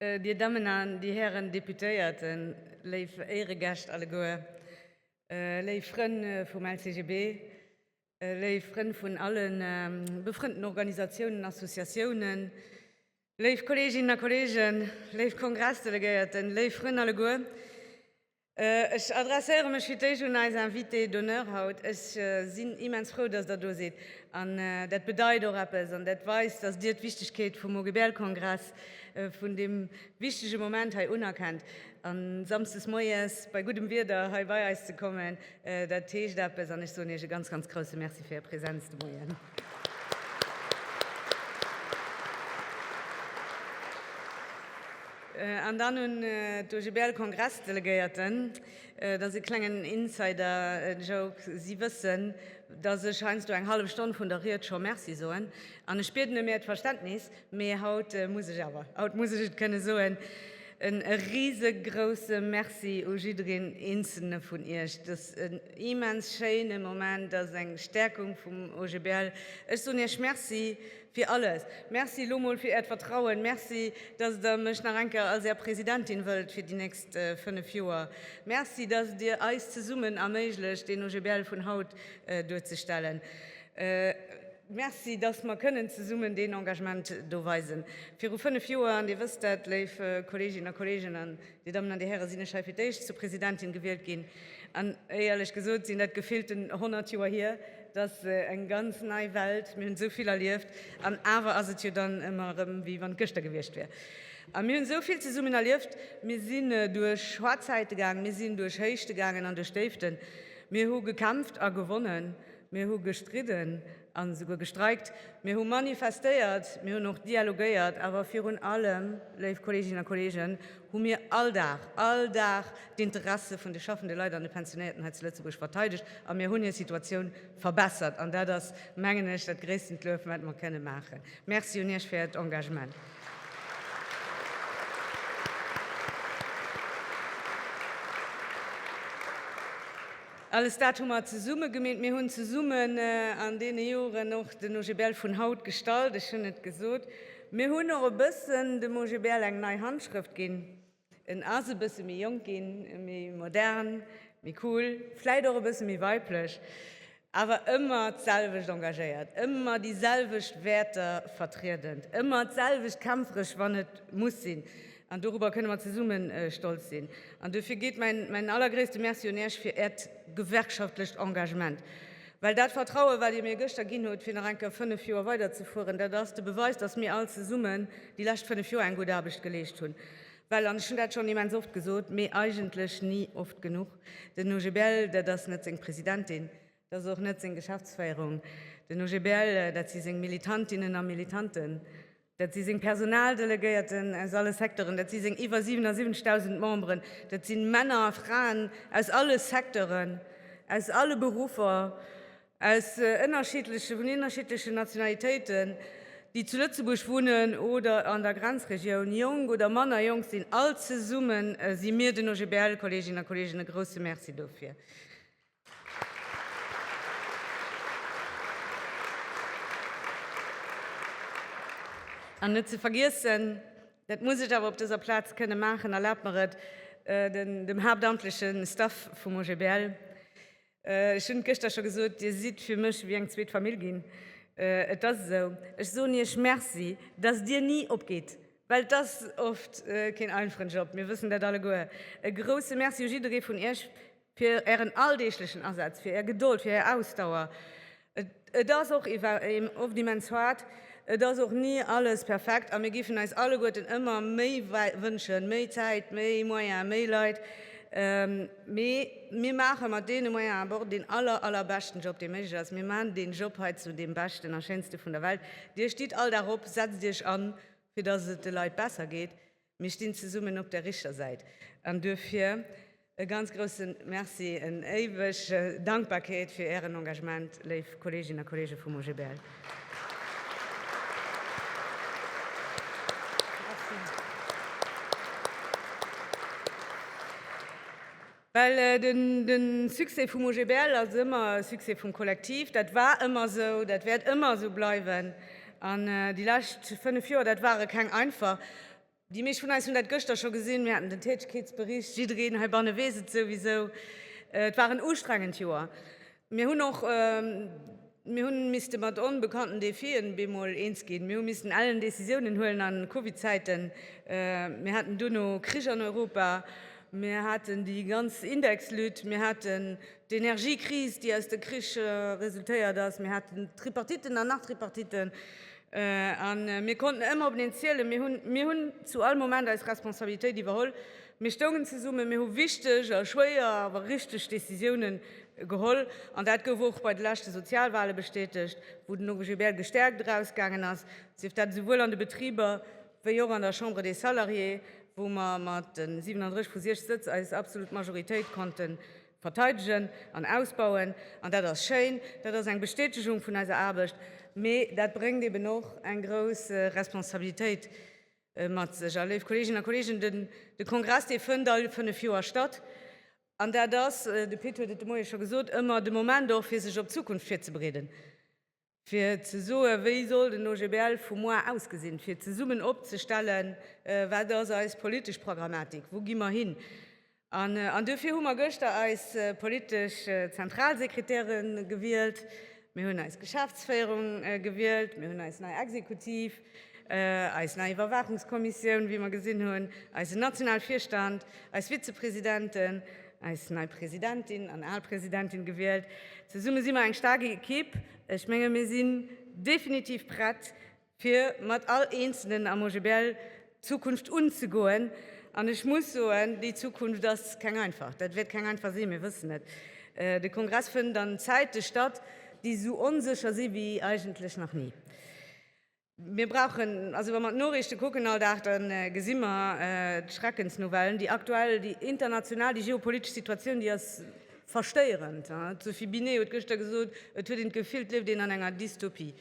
Dir Dammen an Dir Hären Deputéierten, léif Éiregäscht alleguer, léif Frënn vum LCGB, Léif Frënn vun alle befrënnten Organisatiounen, Associatiounen, léif Kolleeginnen a Kolleegen, léif Kongressdelegéierten, léif Frënn alleguer, ech adresséiere mech fir d'éischt un eis Invitée d'honneur haut. Ech sinn immens frou, dass Der do sidd. An dat bedeit och eppes an dat weist, dass Dir d'Wichtigkeet vum OGBL-Kongress, vun deem wichtige Moment hei unerkennt. An Samsdes moies bei guddem Wieder hei bei eis ze kommen, dat heescht eppes. An ech soen Iech e ganz, ganz grouse Merci fir Är Präsenz de Moien. An dann un d'OGBL-Kongressdelegéierten, Et ass e klengen Insider-Joke, si wëssen, dass ech heiansdo eng hallef Stonn vun der Ried scho Merci soen. An ech bieden ëm Äert Verständnis, Mee haut muss ech awer, haut muss ech et kënne soen, en risegrousse Merci u jiddereen eenzelne vun Iech. Dass en immens schéine Moment ass, eng Stärkung vum OGBL. Ech soen Iech Merci fir alles. Merci elo mol fir Äert Vertrauen. Merci, dass Der mech nach eng Kéier als Är Presidentin wëllt fir déi nächst 5 Joer. Merci, dass Der eis zesummen erméiglecht, deen OGBL vun haut duerzestellen. Merci, dass mer kënnen zesummen deen Engagement do weisen. Viru fënnef Joer, an Dir wësst dat, léif Kolleeginnen a Kolleegen, an Dir Dammen an Dir Häre, sinn ech hei fir d'éischt zur Presidentin gewielt ginn. An éierlech gesot sinn dat gefillten honnert Joer hier. Et ass eng ganz nei Welt. Mir hunn esou vill erlieft, an awer ass et jo dann ëmmer erëm, wéi wann et gëschter gewiescht wier. A mir hunn esou vill zesummen erlieft. Mir sinn duerch schwar Zäite gaangen, mir sinn duerch Héichte gaangen an duerch Déiften. Mir hu gekämpft a gewonnen. Mir hu gestridden a souguer gestreikt. Mir hu manifestéiert. Mir hunn och dialogéiert. Awer virun allem, léif Kolleeginnen a Kolleegen, hu mir all Dag, all Dag d'Interesse vun de schaffende Leit an de Pensionéierten hei zu Lëtzebuerg verteidegt. A mir hunn hir Situatioun verbessert. An dat ass, mengen ech, dat gréisstend Luef, wat mer kënne maachen. Merci un Iech fir Äert Engagement. Alles dat hu mer zesumme gemeet. Mir hunn zesummen an deene Joren och den OGBL vun haut gestalt. Ech hunn et gesot, mir hunn och e bëssen dem OGBL eng nei Handschrëft ginn. En ass e bësse méi jonk ginn, méi modern, méi cool, vläit och e bësse méi weiblech, awer ëmmer d'selwecht engagéiert, ëmmer déi selwecht Wäerter vertriedend, ëmmer d'selwecht kämpferesch, wann et muss sinn. An dorobber kënne mer zesumme stolz sinn. An dofir geet mäin allergréisste Merci un Iech fir Äert gewerkschaftlecht Engagement. Well dat Vertrauen, wat Dir mir gëschter ginn hutt, fir nach eng Kéier fënnef Joer weiderzefueren, dat ass de Beweis, dass mir all zesummen déi lescht fënnef Joer eng gutt Aarbecht geleescht hunn. Well, an ech hunn dat schonn immens oft gesot, mee eigentlech ni oft genuch, den OGBL, dat ass net seng Presidentin, dat ass och net seng Geschäftsféierung. Den OGBL, dat si seng Militantinnen a Militanten. Dat si seng Personaldelegéierten aus alle Secteuren, dat si seng iwwer 77.000 Memberen, dat si Männer a Fraen aus alle Secteuren, aus alle Beruffer, aus ënnerschiddleche, vun ënnerschiddlechen Nationalitéiten, déi zu Lëtzebuerg wunnen oder an der Grenzregioun, jonk oder manner jonk sinn. All zesumme si mir den OGBL, Kolleeginnen a Kolleegen, e grouse Merci dofir. An net ze vergiessen, dat muss ech awer op dëser Plaz kënne maachen, erlaabt mer et, dem haaptamtleche Staff vum OGBL, ech hunn et gëschter scho gesot, Dir sidd fir mech wéi eng zweet Famill ginn. Et ass esou, ech soen Iech Merci, dass Dir ni opgitt, well et ass oft keen einfachen Job, mir wëssen dat alleguer. E grousse Merci u jidderee vun Iech. Fir Ären alldeeglechen Asaz, fir Är Gedold, fir Är Ausdauer. Et ass och oft immens haart, et ass och ni alles perfekt a mir géifen eis alleguerten ëmmer méi wënschen, méi Zäit, méi Moyen, méi Leit. Mee mir maache mat deene Moyens awer och deen aller, allerbeschten Job, dee méiglech ass. Mir maachen deen Job hei zu deem beschten a schéinste vun der Welt. Dir stitt all Dag op, setzt Iech an, fir dass et de Leit besser geet. Mir stinn zesummen op der richter Säit an duerfir e ganz groussen Merci, en éiweg Dankbarkeet fir ären Engagement, léif Kolleeginnen a Kolleege vum OGBL. Well de Succès vum OGBL ass ëmmer e Succès vum Kollektiv. Dat war ëmmer esou, dat wäert ëmmer esou bleiwen. An déi lescht fënnef Joer, dat ware keng einfach. Déi meescht vun eis hunn dat gëschter scho gesinn, mir haten den Tätegkeetsbericht, jiddereen heibanne weess et souwisou. Et war en ustrengend Joer. Mir hunn och, mir hunn misste mat onbekannten Défien bemol eens ginn. Mir hu missten ellen Décisiounen huelen an Covid-Zäiten. Mir haten duerno Krich an Europa, mir haten déi ganz Indexlutte, mir haten d'Energiekris, déi aus de Krich resultéiert ass, mir haten Tripartiten an nach Tripartiten. A mir konnten ëmmer op eneen zielen. Mir hunn, mir hunn zu all Moment eis Responsabilitéit iwwerholl. Mir stoungen zesummen, mir hu wichteg a schwéier, awer richteg Decisioune geholl. An dat gouf och bei de leschte Sozialwale bestätegt, wou den Uwe Gébert gestäerkt erausgaangen ass, sief dat esouwuel an de Betriber wéi och an der Chambre des Salariés, wou mer mat 37 vu 60 Sëtz eis absolut Majoritéit konnte verteidegen an ausbauen. An dat ass schéin, dat ass eng Bestätegung vun eiser Aarbecht, mee dat bréngt eeben och eng grouss Responsabilitéit Mat sech. A léif Kolleeginnen a Kolleegen, de Kongress, dee fënnt all fënnef Joer statt. An dat ass, de Pit huet et de Moie scho gesot, ëmmer de Moment och, fir sech op d'Zukunft virzebereeden, fir ze soen, wéi soll den OGBL vu muer ausgesinn, fir zesummen opzestellen, wat ass eis politesch Pragamatik, wou gi mer hin. An duerfir hu mer gëschter eis politesch Zentralsekretäre gewielt, mir hunn eis Geschäftsféierung gewielt, mir hunn eis nei Exekutiv, eis nei Iwwerwaachungskommissioun, wéi mer gesinn hunn, eisen nationale Virstand, eis Vizepresidenten, eis nei Presidentin an al Presidentin gewielt. Zesumme si mer eng staark Ekipp. Ech menge mir sinn definitiv prett, fir mat all Eenzelnen am OGBL d'Zukunft unzegoen. An ech muss soen, déi Zukunft ass keng einfach. Dat wäert keng einfach sinn, mir wëssen et. De Kongress fënnt an Zäite statt, déi esou onsécher si wéi eigentlech nach ni. Mir brauchen, also wa mer d'Noriichte kucken all Dag, da gesi mer d'Schreckensnouvellen, déi aktuell, déi international, déi geopolitesch Situatioun, déi ass verstéierend. D'Sophie Binet huet gëschter gesot, et huet een d'Gefill, et lieft een an enger Dystopie.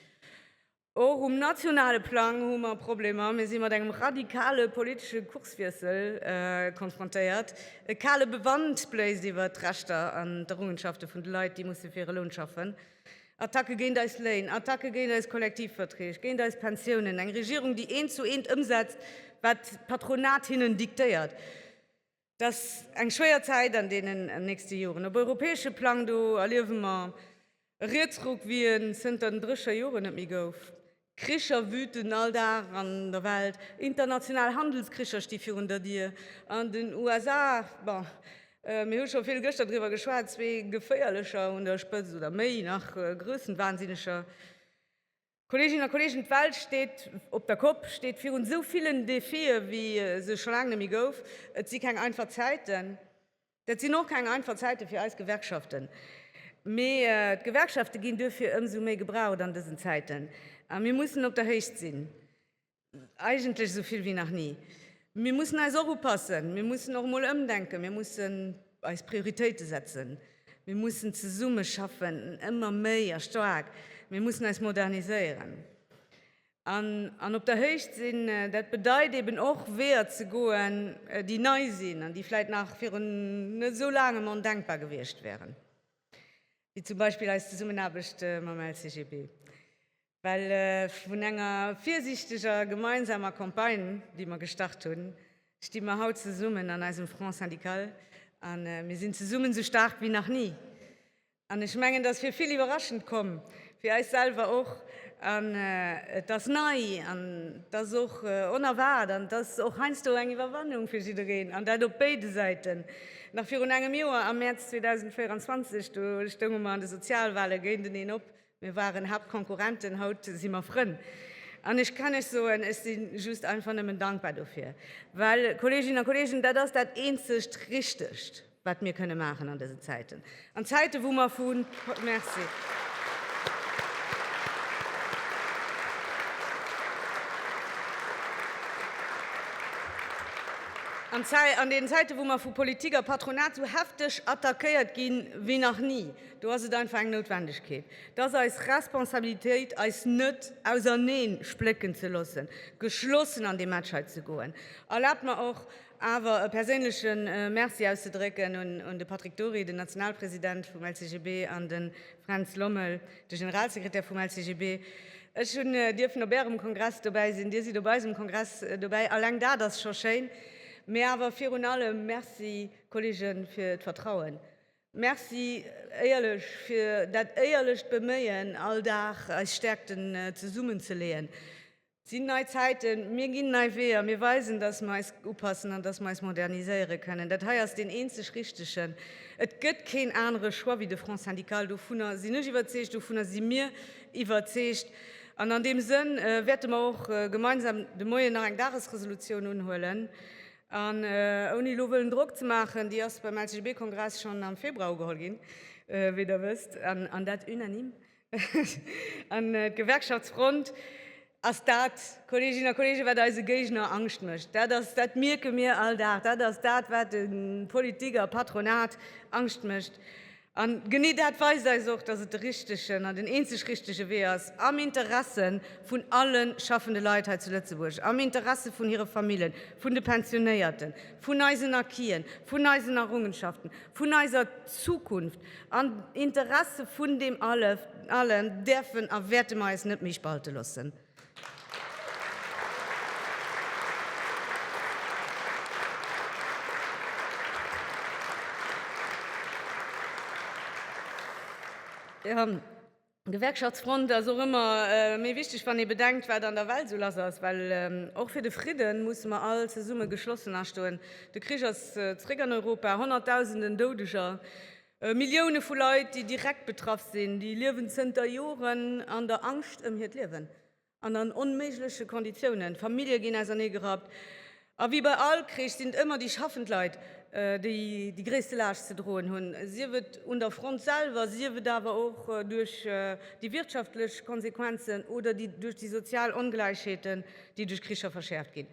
Och um nationale Plang hu mer Problemer. Mir si mat engem radikale politesche Kurswiessel konfrontéiert. E kale Bewand bléist iwwer d'Rechter an d'Errungenschafte vun de Leit, déi musse fir hire Loun schaffen. Attacke géint eis Léin, Attacke géint eis Kollektivverträg, géint eis Pensiounen. Eng Regierung, déi eent zu eent ëmsetzt, wat d'Patronat hinnen diktéiert. Et ass eng schwéier Zäit an deenen nächste Joren. Op europäesche Plang do erliewe mer e Rietsruck, wéi en zënter den Drécher Joren net méi gouf. Kricher wüten all Dag an der Welt, international Handelskricher sti virun der Dier. An den USA, bon, mir hu scho vill gëschter driwwer geschwat, zwee geféierlecher un der Spëtzt, oder méi nach, Grössenwahnsinneger. Kolleeginnen a Kolleegen, d'Welt steet op der Kopp, steet virun esou villen Defie wéi se scho laang net méi gouf. Et si keng einfach Zäiten. Dat sinn och keng einfach Zäite fir eis Gewerkschaften. Mee d'Gewerkschafte ginn duerfir ëmsou méi gebraucht an dësen Zäiten. A mir mussen op der Héicht sinn. eigentlech esou vill wéi nach ni. Mir mussen eis och upassen, mir mussen och emol ëmdenken, mir mussen eis Prioritéite setzen, mir mussen zesumme schaffen, ëmmer méi a staark, mir mussen eis moderniséieren an op der Héicht sinn. Dat bedeit eben och, Weeër ze goen, déi nei sinn an déi vläicht nach virun net esou laangem ondenkbar gewiescht wäeren, wéi zum Beispill eis Zesummenaarbecht mam LCGB. Well vun enger virsiichteger gemeinsamer Campagne, déi mer gestart hunn, sti mer haut zesummen an eisem Front syndical a mir sinn zesummen esou staark wéi nach ni. An ech mengen, et ass fir vill iwwerraschend komm, fir eis selwer och. An et ass nei an et ass och onerwaart an et ass och heiansdo eng Iwwerwannung fir jiddereen, an dat op béide Säiten. Nach virun engem Joer, am Mäerz 2024, do stounge mer an de Sozialwale géinteneen op, Mir waren Haaptkonkurrenten, haut si mer Frënn. An ech kann lech soen, ech si just einfach nëmmen dankbar dofir. Well, Kolleeginnen a Kolleegen, dat ass dat eenzegt Richtegt, wat mir kënne maachen an dësen Zäiten. An Zäiten, wou mer vu. Merci. An deenen Zäiten, wou mer vu Politik a Patronat esou hefteg attackéiert ginn, wéi nach ni, Do ass et einfach eng Noutwendegkeet. Et ass eis Responsabilitéit, eis net auserneen splécken ze loossen, geschlossen an dee Match hei ze goen. Erlaabt mer och awer e perséinleche Merci auszedrécken un de Patrick Dory, den Nationalpresident vum LCGB, an de Fränz Lommel, de Generalsekretär vum LCGB. Ech hunn dierfen op Ärem Kongress dobäi sinn, Dir sidd op eisem Kongress dobäi, alleng dat ass scho schéin. Mee awer virun allem Merci, Kolleegen, fir d'Vertrauen. Merci éierlech fir dat éierlecht Beméien, all Dag eis Stäerkten zesummen ze leeën. Et sinn nei Zäiten, mir ginn nei Weeër, mir weisen, dass mir eis upassen an dass mir eis moderniséiere kënnen. Dat hei ass deen eenzeg richtegen. Et gëtt keen anere Choix wéi de Front syndical. Dovunner sinn ech iwwerzeegt, dovunner si mir iwwerzeegt. An an deem Sënn wäerte mer och gemeinsam de Moien nach eng Dagesresolutioun unhuelen. An ouni elo wëllen Drock ze maachen, déi ass beim LCGB-Kongress schonn am Februar ugeholl ginn, wéi Der wësst, an dat unanime. An d'Gewerkschaftsfront ass dat, Kolleeginnen a Kolleegen, wat eise Géigner Angscht mécht. Dat ass, dat mierke mir all Dag, dat ass dat, wat de Politik a Patronat Angscht mécht. An genee dat weist eis och, dass et de richtegen an den eenzeg richtege Wee ass, am Interesse vun alle schaffende Leit hei zu Lëtzebuerg, am Interesse vun hire Famillen, vun de Pensionéierten, vun eisen Acquisen, vun eisen Errungenschaften, vun eiser Zukunft, am Interesse vun deem Allem däerfen a wäerte mer eis net méi spalte loossen. Gewerkschaftsfront ass och ëmmer méi wichteg, wann ee bedenkt, wat an der Welt esou lass ass. Well och fir de Fridden musse mer all zesumme geschlossen astoen. De Krich ass zeréck an Europa, honnertdausenden Doudeger, Millioune vu Leit, déi direkt betraff sinn, déi liewen zënter Joren an der Angscht ëm hiert Liewen an an onméigleche Konditiounen. Famillje ginn auserneegerappt. A wéi bei all Krich sinn et ëmmer déi schaffend Leit, déi déi gréisste Laascht ze droen hunn, sief et un der Front selwer, sief et awer och duerch déi wirtschaftlech Konsequenzen oder duerch déi sozial Ongläichheeten, déi duerch Kricher verschäerft ginn.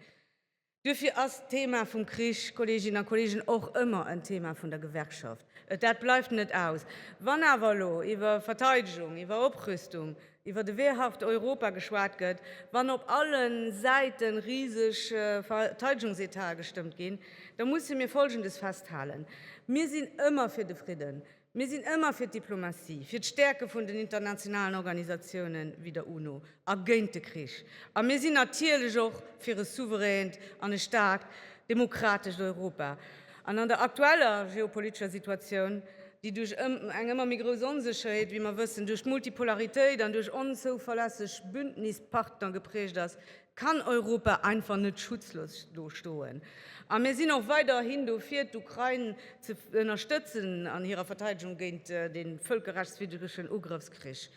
Duerfir ass d'Thema vum Krich, Kolleeginnen a Kolleegen, och ëmmer en Thema vun der Gewerkschaft. Et, dat bleift net aus. Wann awer elo iwwer Verteidegung, iwwer Oprüstung, iwwer de wehrhaft Europa geschwat gëtt, wann op alle Säite riseg Verteidegungsétae gestëmmt ginn, da musse mir Folgendes festhalen, Mir sinn ëmmer fir de Fridden. Mir sinn ëmmer fir d'Diplomatie, fir d'Stäerke vun den internationalen Organisatiounen wéi der UNO a géint de Krich. A mir sinn natierlech och fir e souveränt an e staarkt demokratescht Europa. An an der aktueller geopolitescher Situatioun, déi duerch eng ëmmer méi grouss Onsécherheet, wéi mer wëssen, duerch d'Multipolaritéit an duerch onzouverlässeg Bündnispartner geprägt ass, kann Europa einfach net schutzlos do stoen. A mir sinn och weiderhin dofir, d'Ukrain ze ënnerstëtzen an hirer Verteidegung géint dee völkerrechtswiddregen Ugrëffskrich.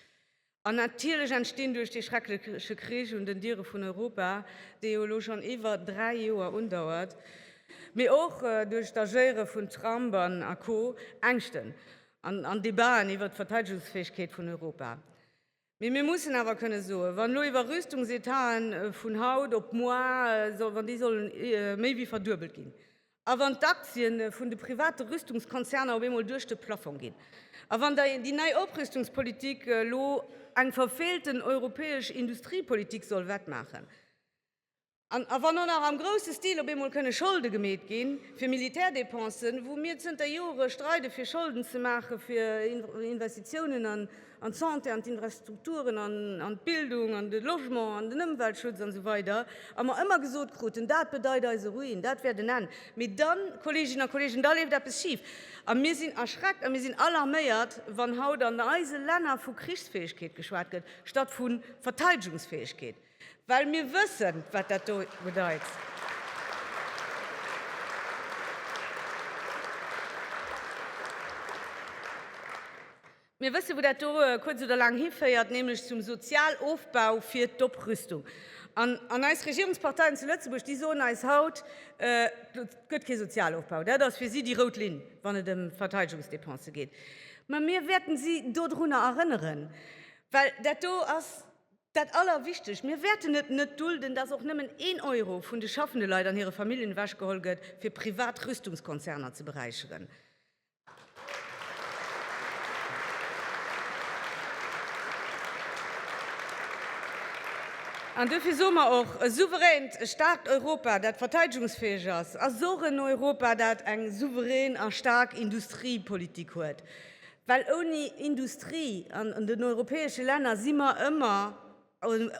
An natierlech entstinn duerch dee schreckleche Krich un den Diere vun Europa, dee jo elo schonn iwwer dräi Joer undauert, mee och duerch d'Agéiere vun Trump a Co. Ängschten an Debaten iwwert d'Verteidegungsfäegkeet vun Europa. Mee mir mussen awer kënne soen, wann elo iwwer Rüstungsetahen vun haut op muar, wann déi sollen méi wéi verduebelt ginn a wann d'Aktien vun de private Rüstungskonzerner op eemol duerch de Plafong ginn a wann da déi nei Oprüstungspolitik elo eng verfeelten europäesch Industriepolitik soll wettmaachen, A wann och nach am grousse Stil op eemol kënne Scholde gemeet ginn fir Militärdépensen, wou mir zënter Jore streide fir Scholden ze maache fir Investitiounen an d'Santé, an d'Infrastrukturen, an d'Bildung, an de Logement, an den Ëmweltschutz an esou weider, a mer ëmmer gesot kruten, dat bedeit eise Ruin, dat wär den Enn, mee dann, Kolleeginnen a Kolleegen, da leeft eppes schif. A mir sinn erschreckt a mir sinn alarméiert, wann haut an eise Länner vu Krichsfäegkeet geschwat gëtt statt vu Verteidegungsfäegkeet. Well mir wëssen, wat dat do bedeit. Mir wëssen, wou dat do kuerz oder laang hiféiert, nämlech zum Sozialofbau fir d'Oprüstung. An, an eis Regierungsparteien zu Lëtzebuerg, déi soen eis haut, Et gëtt kee Sozialofbau. Dat ass fir si déi rout Linn, wann et ëm Verteidegungsdepensë geet. Mä mir wäerten si dodrunner erënneren, well dat do ass, Dat Allerwichtegst, Mir wäerten et net dulden, dass och nëmmen een Euro vun de schaffende Leit an hire Familljen ewechgeholl gëtt, fir privat Rüstungskonzerner ze beräicheren. An duerfir soe mer och, E souveränt, e staarkt Europa, dat verteidegungsfäeg ass, ass och en Europa, dat eng souverän a staark Industriepolitik huet. Well ouni Industrie an den europäesche Länner si mer ëmmer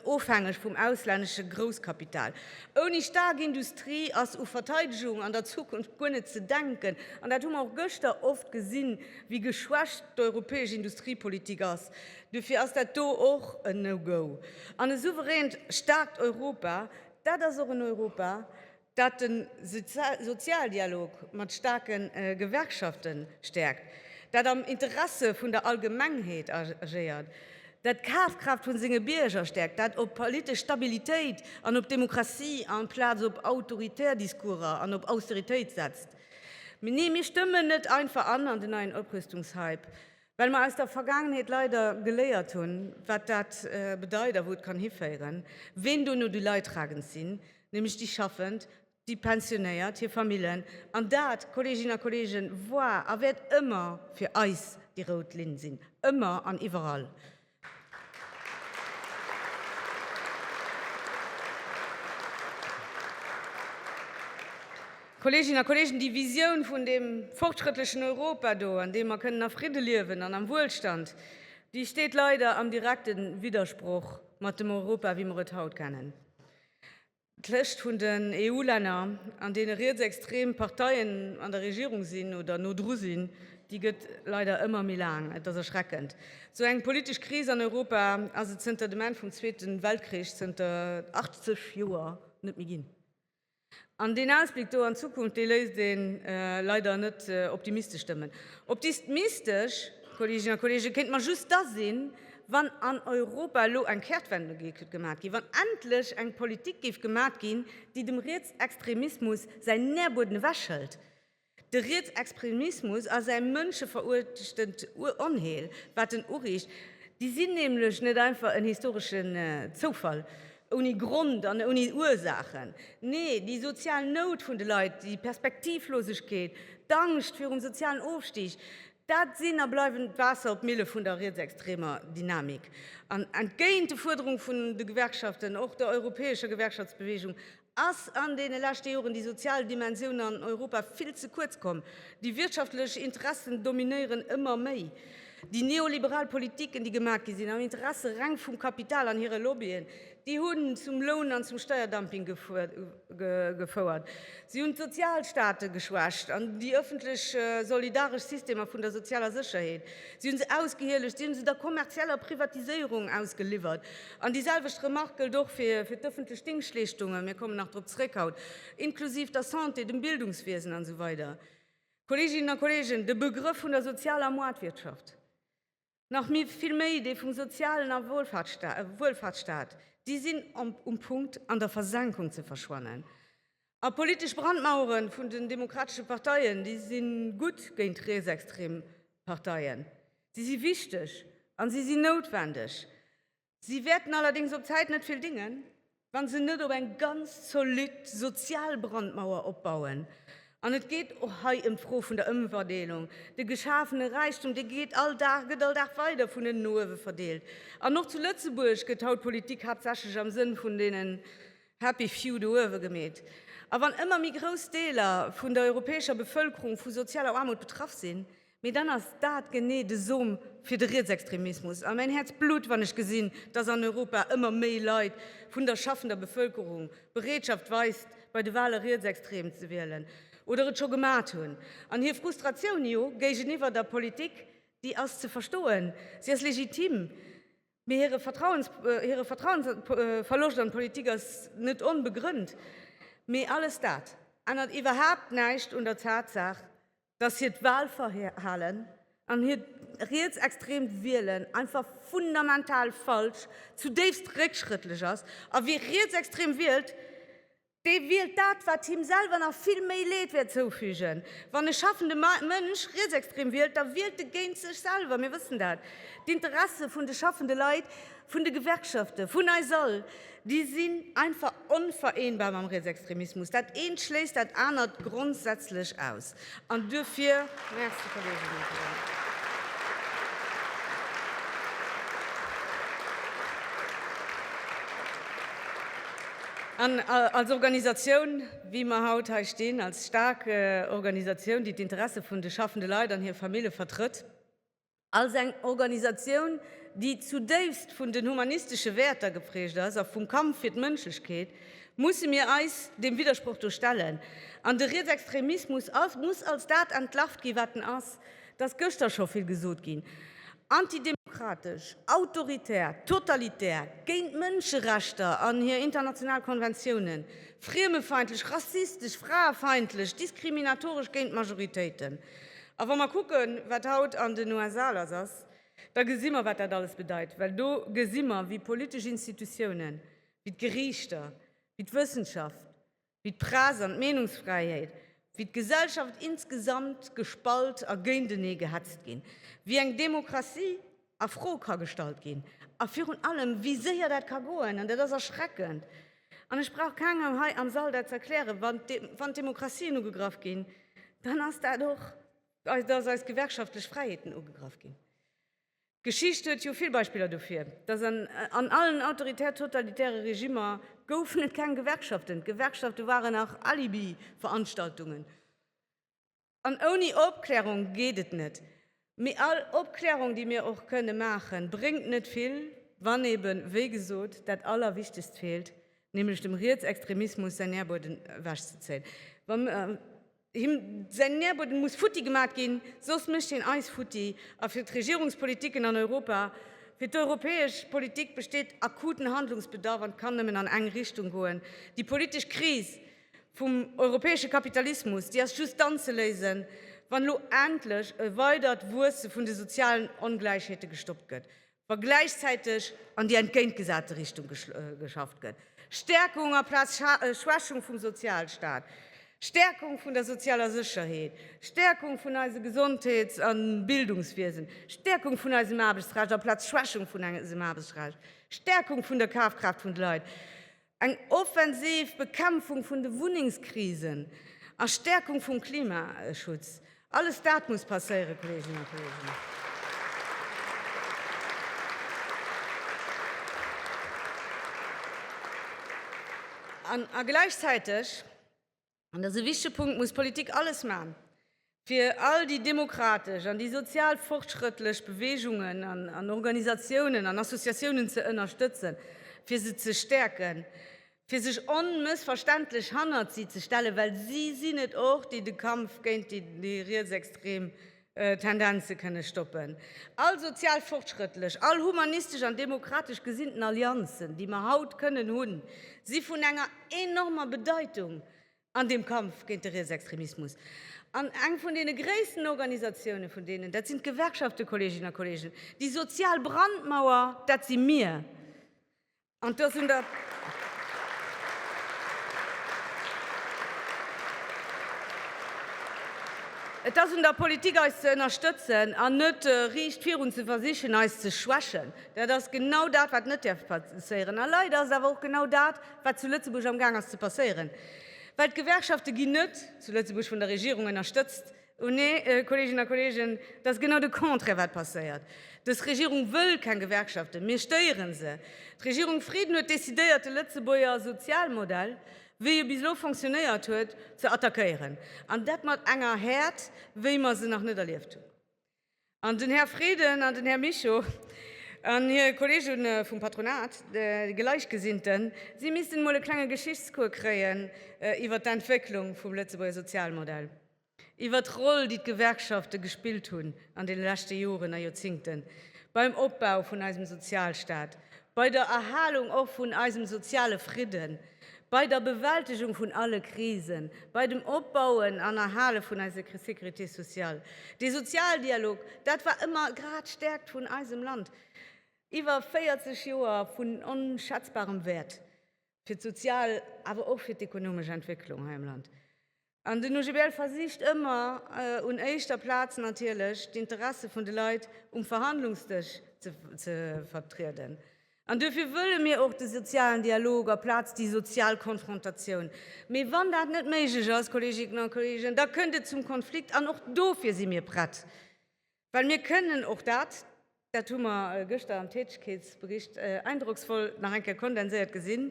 ofhängeg vum auslännesche Grousskapital. Ouni staark Industrie ass u Verteidegung an der Zukunft guer net ze denken. An dat hu mer och gëschter oft gesinn, wéi geschwächt d'europäesch Industriepolitik ass. Dofir ass dat do och en No-Go. An e souveränt, staarkt Europa, dat ass och en Europa, dat de Sozialdialog mat staarke Gewerkschafte stäerkt, dat am Interesse vun der Allgemengheet agéiert, dat d'Kafkraaft vu senge Bierger stäerkt, dat op politesch Stabilitéit an op Demokratie amplaz op autoritär Discourser an op Austeritéit setzt. Nee, mir stëmmen net einfach an an den neien Oprüstungshype. Well mer aus der Vergaangenheet leider geléiert hunn, wat dat bedeit a wou et kann hiféieren, ween dono déi Leidtragend sinn, nämlech déi Schaffend, déi Pensionéiert, hir Famillen. An dat, Kolleeginnen a Kolleegen, war a wäert ëmmer fir eis déi rout Linn sinn, ëmmer an iwwerall. Kolleeginnen a Kolleegen, déi Visioun vun deem fortschrëttlechen Europa do, an deem mer kënnen a Fridde liewen an am Wuelstand, déi steet leider am direkte Widdersproch mat dem Europa, wéi mer et haut kennen. D'Lëscht vun den EU-Länner, an deene rietsextrem Parteien an der Regierung sinn oder no dru sinn, déi gëtt leider ëmmer méi laang. Et ass erschreckend. Esou eng politesch Kris an Europa ass et zënter dem Enn vum Zweete Weltkrich, zënter 80 Joer, net méi ginn. An deen Ausbléck do an d'Zukunft, dee léisst ee leider net optimistesch stëmmen. Optistmistesch, Kolleeginnen a Kolleegen, kéinte mer just da sinn, wann an Europa elo eng Kehrtwende géif gemat ginn, wann endlech eng Politik géif gemat ginn, déi dem Rietsextremismus säin Nährbueden ewechhëlt. De Rietsextremismus ass e mënscheveruerchtend Onheel, wat en uriicht. Déi sinn nämlech net einfach en historesche Zoufall ouni Grond an ouni Ursaachen. Nee, déi sozial Nout vun de Leit, déi Perspektivlosegkeet, d'Angscht virum sozialen Ofstig, Dat sinn a bleiwen d'Waasser op d'Mille vun der rietsextremer Dynamik. An entgéint de Fuerderunge vun de Gewerkschaften, och der europäescher Gewerkschaftsbewegung, ass an deene leschte Joren déi sozial Dimensioun an Europa vill ze kuerz komm. Déi wirtschaftlech Interessen dominéieren ëmmer méi. Déi neoliberal Politiken, déi gemaach gi sinn am Interesse reng vum Kapital an hire Lobbyen, Déi hunn zum Loun an zum Steierdumping gefouert. Si hunn d'Sozialstaate geschwächt an déi ëffentlech solidaresch Systemer vun der sozialer Sécherheet, si hu se ausgehielegt, si hu se der kommerzieller Privatiséierung ausgeliwwert. An déi selwecht Remark gëllt och fir d'ëffentlech Dingschtleeschtungen, mir kommen nach drop zréck haut, inklusiv der Santé, dem Bildungswiesen an esou weider. Kolleeginnen a Kolleegen, de Begrëff vun der sozialer Moartwirtschaft, Nach méi, vill méi, dee vum sozialen a Wuelfaartsstaat, déi sinn um Punkt an der Versenkung ze verschwannen. A politesch Brandmauere vun den demokratesche Parteien, déi si gutt géint rietsextrem Parteien, si si wichteg a si si noutwendeg. Si wäerten allerdéngs op Zäit net vill dingen, wa se net op eng ganz zolidd sozial Brandmauer opbauen. An et geet och hei ëm d'Fro vun der Ëmverdeelung. De geschafene Räichtum, dee geet all Dag, gëtt all Dag weider vun ënnen no uewe verdeelt. An och zu Lëtzebuerg gëtt haut d'Politik haaptsächlech am Sënn vun deenen happy few do uewe gemeet. A wann ëmmer méi grouss Deeler vun der europäescher Bevëlkerung vu sozialer Aarmut betraff sinn, Mee dann ass dat genee de Som fir de Rietsextremismus a mäin Häerz blutt, wann ech gesinn, dass an Europa ëmmer méi Leit vun der schaffender Bevëlkerung Bereetschaft weist, bei de Wale rietsextrem ze wielen oder et scho gemat hunn. An hir Frustratioun, jo, géigeniwwer der Politik, déi ass ze verstoen, si ass legitim. Mee hire Vertrauensverloscht an d'Politik ass net onbegrënnt. Mee alles dat ännert iwwerhaapt näischt un der Tatsaach, dass hiert Wahlverhalen an hiert rietsextreemt Wielen einfach fundamental falsch, zudéifst réckschrëttlech ass. A wie rietsextrem wielt, dee wielt dat, wat him selwer nach vill méi Leed wäert zoufügen. Wann e schaffende Mënsch rietsextrem wielt, da wielt e géint sech selwer. Mir wëssen dat. D'Interesse vun de schaffende Leit, vun de Gewerkschaften, vun eis all, Déi sinn einfach onvereenbar mam Rietsextremismus. Dat eent schléisst dat anert grondsätzlech aus. An duerfir, Merci, Kolleginnen a Kollegen. An als Organisatioun, wéi mer haut hei stinn, als staark Organisatioun, déi d'Interesse vun de schaffende Leit an hir Famille vertrëtt, Als eng Organisatioun, déi zudéifst vun den humanistesche Wäerter geprägt ass a vum Kampf fir d'Mënschlechkeet, musse mir eis deem Widdersproch do stellen. An de Rietsextremismus muss als dat entlarvt ginn, wat en ass. Et ass gëschter scho vill gesot ginn, antidemokratesch, autoritär, totalitär, géint d'Mënscherechter an hir international Konventiounen, friemefeindlech, rassistesch, fraefeindlech, diskriminatoresch géint d'Majoritéiten. A wa mer kucken, wat haut an den USA lass ass, da gesi mer, wat dat alles bedeit. Well do gesi mer, wéi politesch Institutiounen, wéi d'Geriichter, wéi d'Wëssenschaft, wéi d'Press an d'Meenungsfräiheet, wéi d'Gesellschaft insgesamt gespalt a géintenee gehetzt ginn. Wéi eng Demokratie a Fro ka gestallt ginn a virun allem, wéi séier dat ka goen. An dat ass erschreckend. An ech brauch kengem hei am Sall dat ze erklären, wann d'Demokratien ugegraff ginn, dann ass dat och, datt eis gewerkschaftlech Fräiheeten ugegraff ginn. D'Geschicht huet jo vill Beispiller dofir, datt an allen autoritär-totalitäre Regimmer goufen et keng Gewerkschaften. D'Gewerkschafte waren nach Alibi-Veranstaltungen. An ouni Opklärung geet et net. Mee all Opklärung, déi mir och kënne maachen, bréngt net vill, wann eben, wéi gesot, dat Allerwichtegst feelt, nämlech dem Rietsextremismus säin Nährbueden ewech ze zéien. Wa him säin Nährbueden muss futti gemat ginn, soss mécht hien eis futti. A fir d'Regierungspolitiken an Europa, fir d'europäesch Politik besteet akuten Handlungsbedarf an kann nëmmen an eng Richtung goen, déi politesch Kris, vum europäesche Kapitalismus, déi ass just dann ze léisen, wann elo endlech e weidert Wuesse vun de sozialen Ongläichheete gestoppt gëtt, wa gläichzäiteg an déi entgéintgesate Richtung geschafft gëtt, Stäerkung amplaz Schwächung vum Sozialstaat, Stäerkung vun der sozialer Sécherheet, Stäerkung vun eise Gesondheets a Bildungswiesen, Stäerkung vun eisem Aarbechtsrecht amplaz Schwächung vun eisem Aarbechtsrecht, Stäerkung vun der Kafkraaft vun de Leit. Eng offensiv Bekämpfung vun de Wunnengskrisen a Stärkung vum Klimaschutz, alles dat muss passéieren, Kolleeginnen a Kolleegen. A gläichzäiteg an dass e wichtege Punkt, muss d'Politik alles maachen, fir all déi demokratesch an déi sozial fortschrëttlech Beweegungen an Organisatiounen an Associatiounen ze ënnerstëtzen, fir se ze stäerken, fir sech onmëssverständlech hannert si ze stellen, well si sinn et och, déi de Kampf géint déi rietsextrem Tendenze kënne stoppen. All sozialfortschrëttlech, all humanistesch an demokratesch gesinnten Allianzen, déi mer haut kënnen hunn, si vun enger enormer Bedeitung an deem Kampf géint de Rietsextremismus. An eng vun deene gréissten Organisatioune vun deenen, dat sinn d'Gewerkschafte, Kolleeginnen a Kolleegen. Déi sozial Brandmauer, dat si mir. An dass un der. Et ass un der Politik eis ze ënnerstëtzen an net riicht virun ze versichen eis ze schwächen. Dat ass genau dat wat net däerf passéieren. A leider ass et awer och genau dat wat zu Lëtzebuerg amgaang ass ze passéieren. Well d'Gewerkschafte ginn net zu Lëtzebuerg vun der Regierung ënnerstëtzt. O nee, Kolleeginnen a Kolleegen, et ass genau de Contraire, wat passéiert. Dës Regierung wëll keng Gewerkschaften. Mir stéieren se. D'Regierung Frieden huet decidéiert, de Lëtzebuerger Sozialmodell, wéi e bis elo fonctionnéiert huet, ze attackéieren, an dat mat enger Häert, wéi mer se nach net erlieft hunn. An den Här Frieden an den Här Mischo an hir Kolleege vum Patronat, déi Gläichgesinnten, si missten emol e klenge Geschichtscours kréien iwwert d'Entwécklung vum Lëtzebuerger Sozialmodell, iwwert d'Roll, déi d'Gewerkschafte gespillt hunn an deene leschte Joren a Joerzingten beim Opbau vun eisem Sozialstaat, bei der Erhalung och vun eisem soziale Fridden. Bei der Bewältegung vun alle Krisen, bei dem Opbauen an Erhale vun eiser Sécurité sociale. Dee Sozialdialog, dat war ëmmer grad d'Stäerkt vun eisem Land. Iwwer 40 Joer vun onschätzbarem Wäert fir d'sozial, awer och fir d'ekonomesch Entwécklung hei am Land. An den OGBL versicht ëmmer, un éischter Plaz natierlech, d'Interesse vun de Leit um Verhandlungsdësch ze vertrieden. An duerfir wëlle mir och de sozialen Dialog aplaz déi sozial Konfrontatioun. Mee wann dat net méiglech ass, Kolleginnen a Kollegen, da kënnt et zum Konflikt, an och dofir si mir prett. Well mir kënnen och dat, dat hu mer gëschter am Tätegkeetsbericht eindrocksvoll nach eng Kéier kondenséiert gesinn,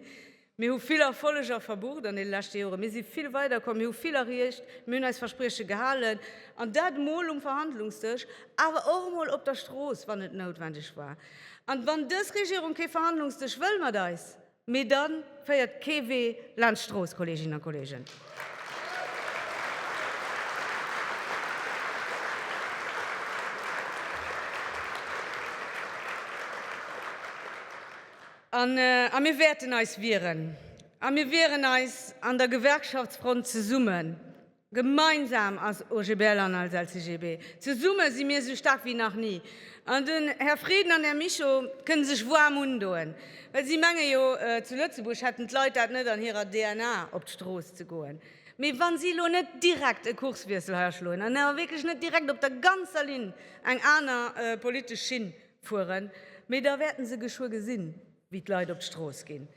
mir hu vill Erfolleger verbucht an deene leschte Joren, mir si vill weiderkomm, mir hu vill erreecht, mir hunn eis Versprieche gehalen, an dat emol um Verhandlungsdësch, awer och emol op der Strooss, wann et noutwendeg war. An wann dës Regierung kee Verhandlungsdësch wëll mat eis, Mee dann féiert kee Wee laanscht Strooss, Kolleeginnen a Kolleegen. A mir wäerten eis wieren. A mir wieren eis an der Gewerkschaftsfront zesummen. Gemeinsam ass OGBL an als LCGB zesumme si mir sou staark wéi nach ni. An den Här Frieden an den Här Mischo kënne sech waarm undoen, well si menge jo, zu Lëtzebuerg hätten d'Leit dat net an hirer DNA, op d'Strooss ze goen. Mee wa si elo net direkt e Kurswiessel hei aschloen an awer wierklech net direkt op der ganzer Linn eng aner politesch Schinn fueren, mee da wäerte se geschwë gesinn, wéi d'Leit op d'Strooss ginn.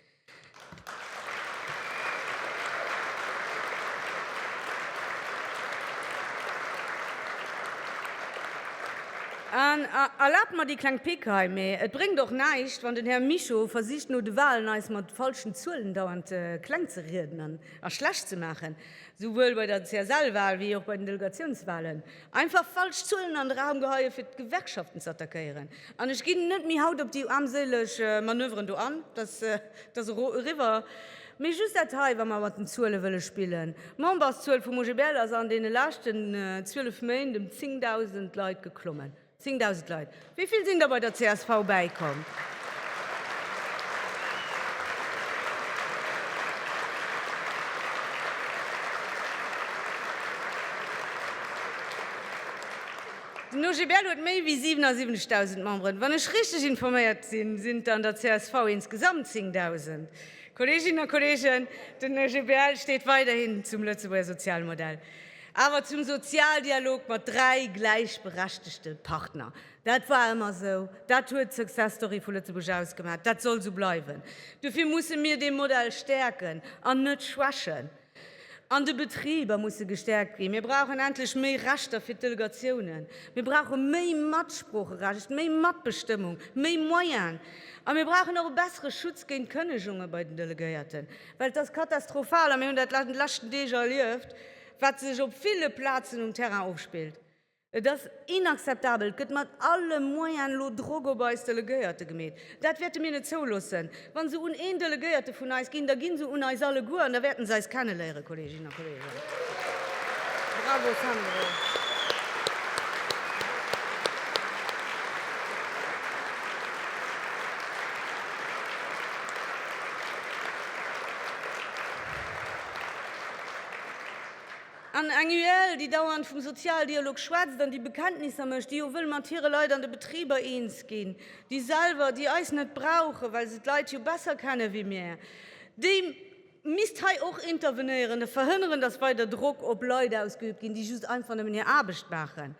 Erlaabt mer déi kleng Pick hei, mee et bréngt och näischt, wann den Här Mischo versicht no de Wahlen eis mat falschen Zuelen dauernd kleng ze rieden a schlecht ze maachen, souwuel bei der CSL-Wahl wéi och bei den Delegatiounswahlen. Einfach falsch Zuelen an de Raum geheien fir d'Gewerkschaften ze attackéieren. An ech ginn net méi haut op déi armséileg Manöveren do an, dass dass eriwwer. Mee just dat hei, wa mer mat den Zuele wëlle spillen, D'Memberszuel vum OGBL ass an deene leschten 12 Méint ëm 10.000 Leit geklommen. 10.000 Leit. Wéi vill sinn der bei der csv bäikomm? Den OGBL huet méi wéi 77.000 Memberen. Wann ech richteg informéiert sinn, sinn et an der csv insgesamt 10.000. Kolleeginnen a Kolleegen, den OGBL steet weiderhin zum Lëtzebuerger Sozialmodell. Awer zum Sozialdialog mat dräi gläichberechtegte Partner. Dat war ëmmer esou, dat huet d'Success Story vu Lëtzebuerg ausgemaach, dat soll esou bleiwen. Dofir musse mir dee Modell stäerken an net schwächen. An de Betriber musse gestäerkt ginn. Mir brauchen endlech méi Rechter fir d'Delegatiounen. Mir brauche méi Matsproocherecht, méi Matbestëmmung, méi Moyene. A mir brauchen och e bessere Schutz géint Kënnegunge bei den Delegéierten. Well et ass katastrophal, a mir hunn dat an de leschten Deeg erlieft, wat sech op ville Plazen um Terrain ofspillt. Et ass inakzeptabel. Et gëtt mat alle Moyene lo Drock op eis Delegéierte gemeet. Dat wäerte mir net zouloossen. Wa se un een Delegéierte vun eis ginn, da gi se un eis alleguer an da wäerte se eis kenneléieren, Kolleeginnen An eng UEL, déi dauernd vum Sozialdialog schwätzt an déi Bekenntnisser mécht, déi jo wëll mat hire Leit an de Betriber eens ginn, déi selwer, déi eis net brauchen, well se d'Leit jo besser kennen ewéi mir, déi, misst hei och intervenéieren a verhënneren, dass weider Drock op Leit ausgeübt ginn, déi just einfach nëmmen hir Aarbecht maachen.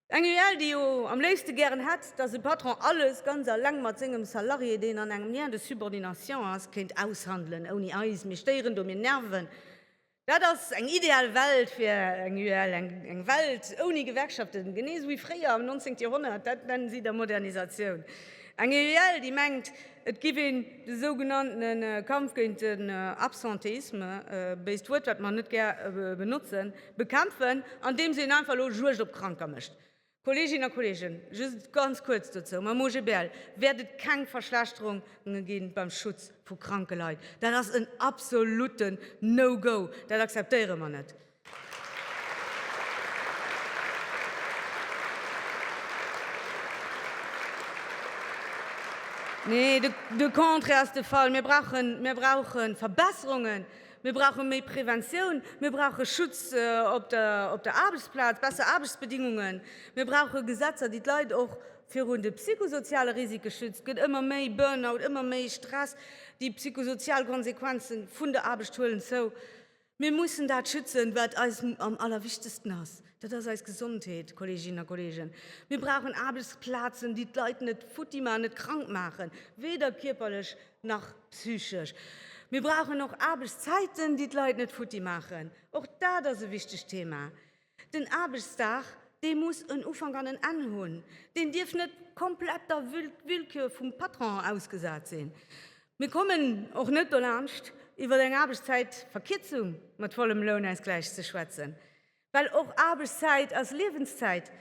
Eng UEL, déi jo am léifste gären hätt, dass e Patron alles ganz eleng mat sengem Salarié, deen an engem Lien de subordination ass, kéint aushandelen, ouni eis. Mir stéieren do, mir nerven. Dat ass eng ideal Welt fir eng UEL, eng Welt ouni Gewerkschaften, genee esou wéi fréier am 19. Joerhonnert. Dat nennen si da Modernisatioun. Eng UEL, déi mengt, et giff een de sougenannte Kampf géint den Absentéisme, béist Wuert, wat mer net gär benotzen, bekämpfen, andeems een einfach elo Juegd op Kranker mécht. Kolleeginnen a Kolleegen, just ganz kuerz dozou, Mam OGBL wäert et keng Verschlechterunge gi beim Schutz vu kranke Leit. Dat ass en absolutten No-Go, dat akzeptéiere mer net. Nee, de Contraire ass de Fall, mir brauche Verbesserungen Mir brauche méi Preventioun, mir brauche Schutz op der Aarbechtsplaz, besser Aarbechtsbedingungen, mir brauche Gesetzer, déi d'Leit och virun de psychosoziale Risike schützt. Et gëtt ëmmer méi Burnout, ëmmer méi Stress, déi psychosozial Konsequenze vun der Aarbecht huelen zou. Mir mussen dat schützen, wat eis am allerwichtegsten ass, dat ass eis Gesondheet, Kolleeginnen a Kolleegen. Mir brauchen Aarbechtsplazen, déi d'Leit net futti maachen, net krank maachen, weder kierperlech, Nach psychesch. Mir brauchen och Aarbechtszäiten, déi d'Leit net futti maachen. Och dat ass e wichtegt Thema. Den Aarbechtsdag, dee muss en Ufank an en Enn hunn. Deen dierf net komplett der Willkür vum Patron ausgesat sinn. Mir kommen och net dolaanscht, iwwer eng Aarbechtszäitverkierzung mat vollem Lounausgläich ze schwätzen. Well och Aarbechtszäit ass Liewenszäit.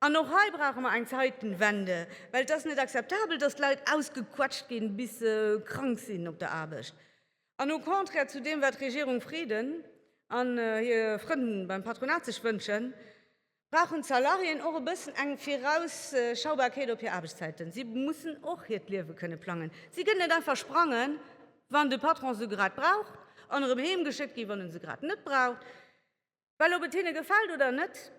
An och hei brauche mer eng Zeitenwende, well et ass net akzeptabel, datt d'Leit ausgequetscht ginn, bis se krank sinn op der Aarbecht. An au contraire zu deem, wat d'Regierung Frieden an hir Frënn beim Patronat sech wënschen, brauchen d'Salariéen och e bëssen eng Virausschaubarkeet op hir Aarbechtszäiten. Si mussen och hiert Liewe kënne plangen. Si kënnen net einfach sprangen, wann de Patron se grad brauch, an erëm heemgeschéckt ginn, wann en se grad net braucht. Well ob et hinne gefält oder net,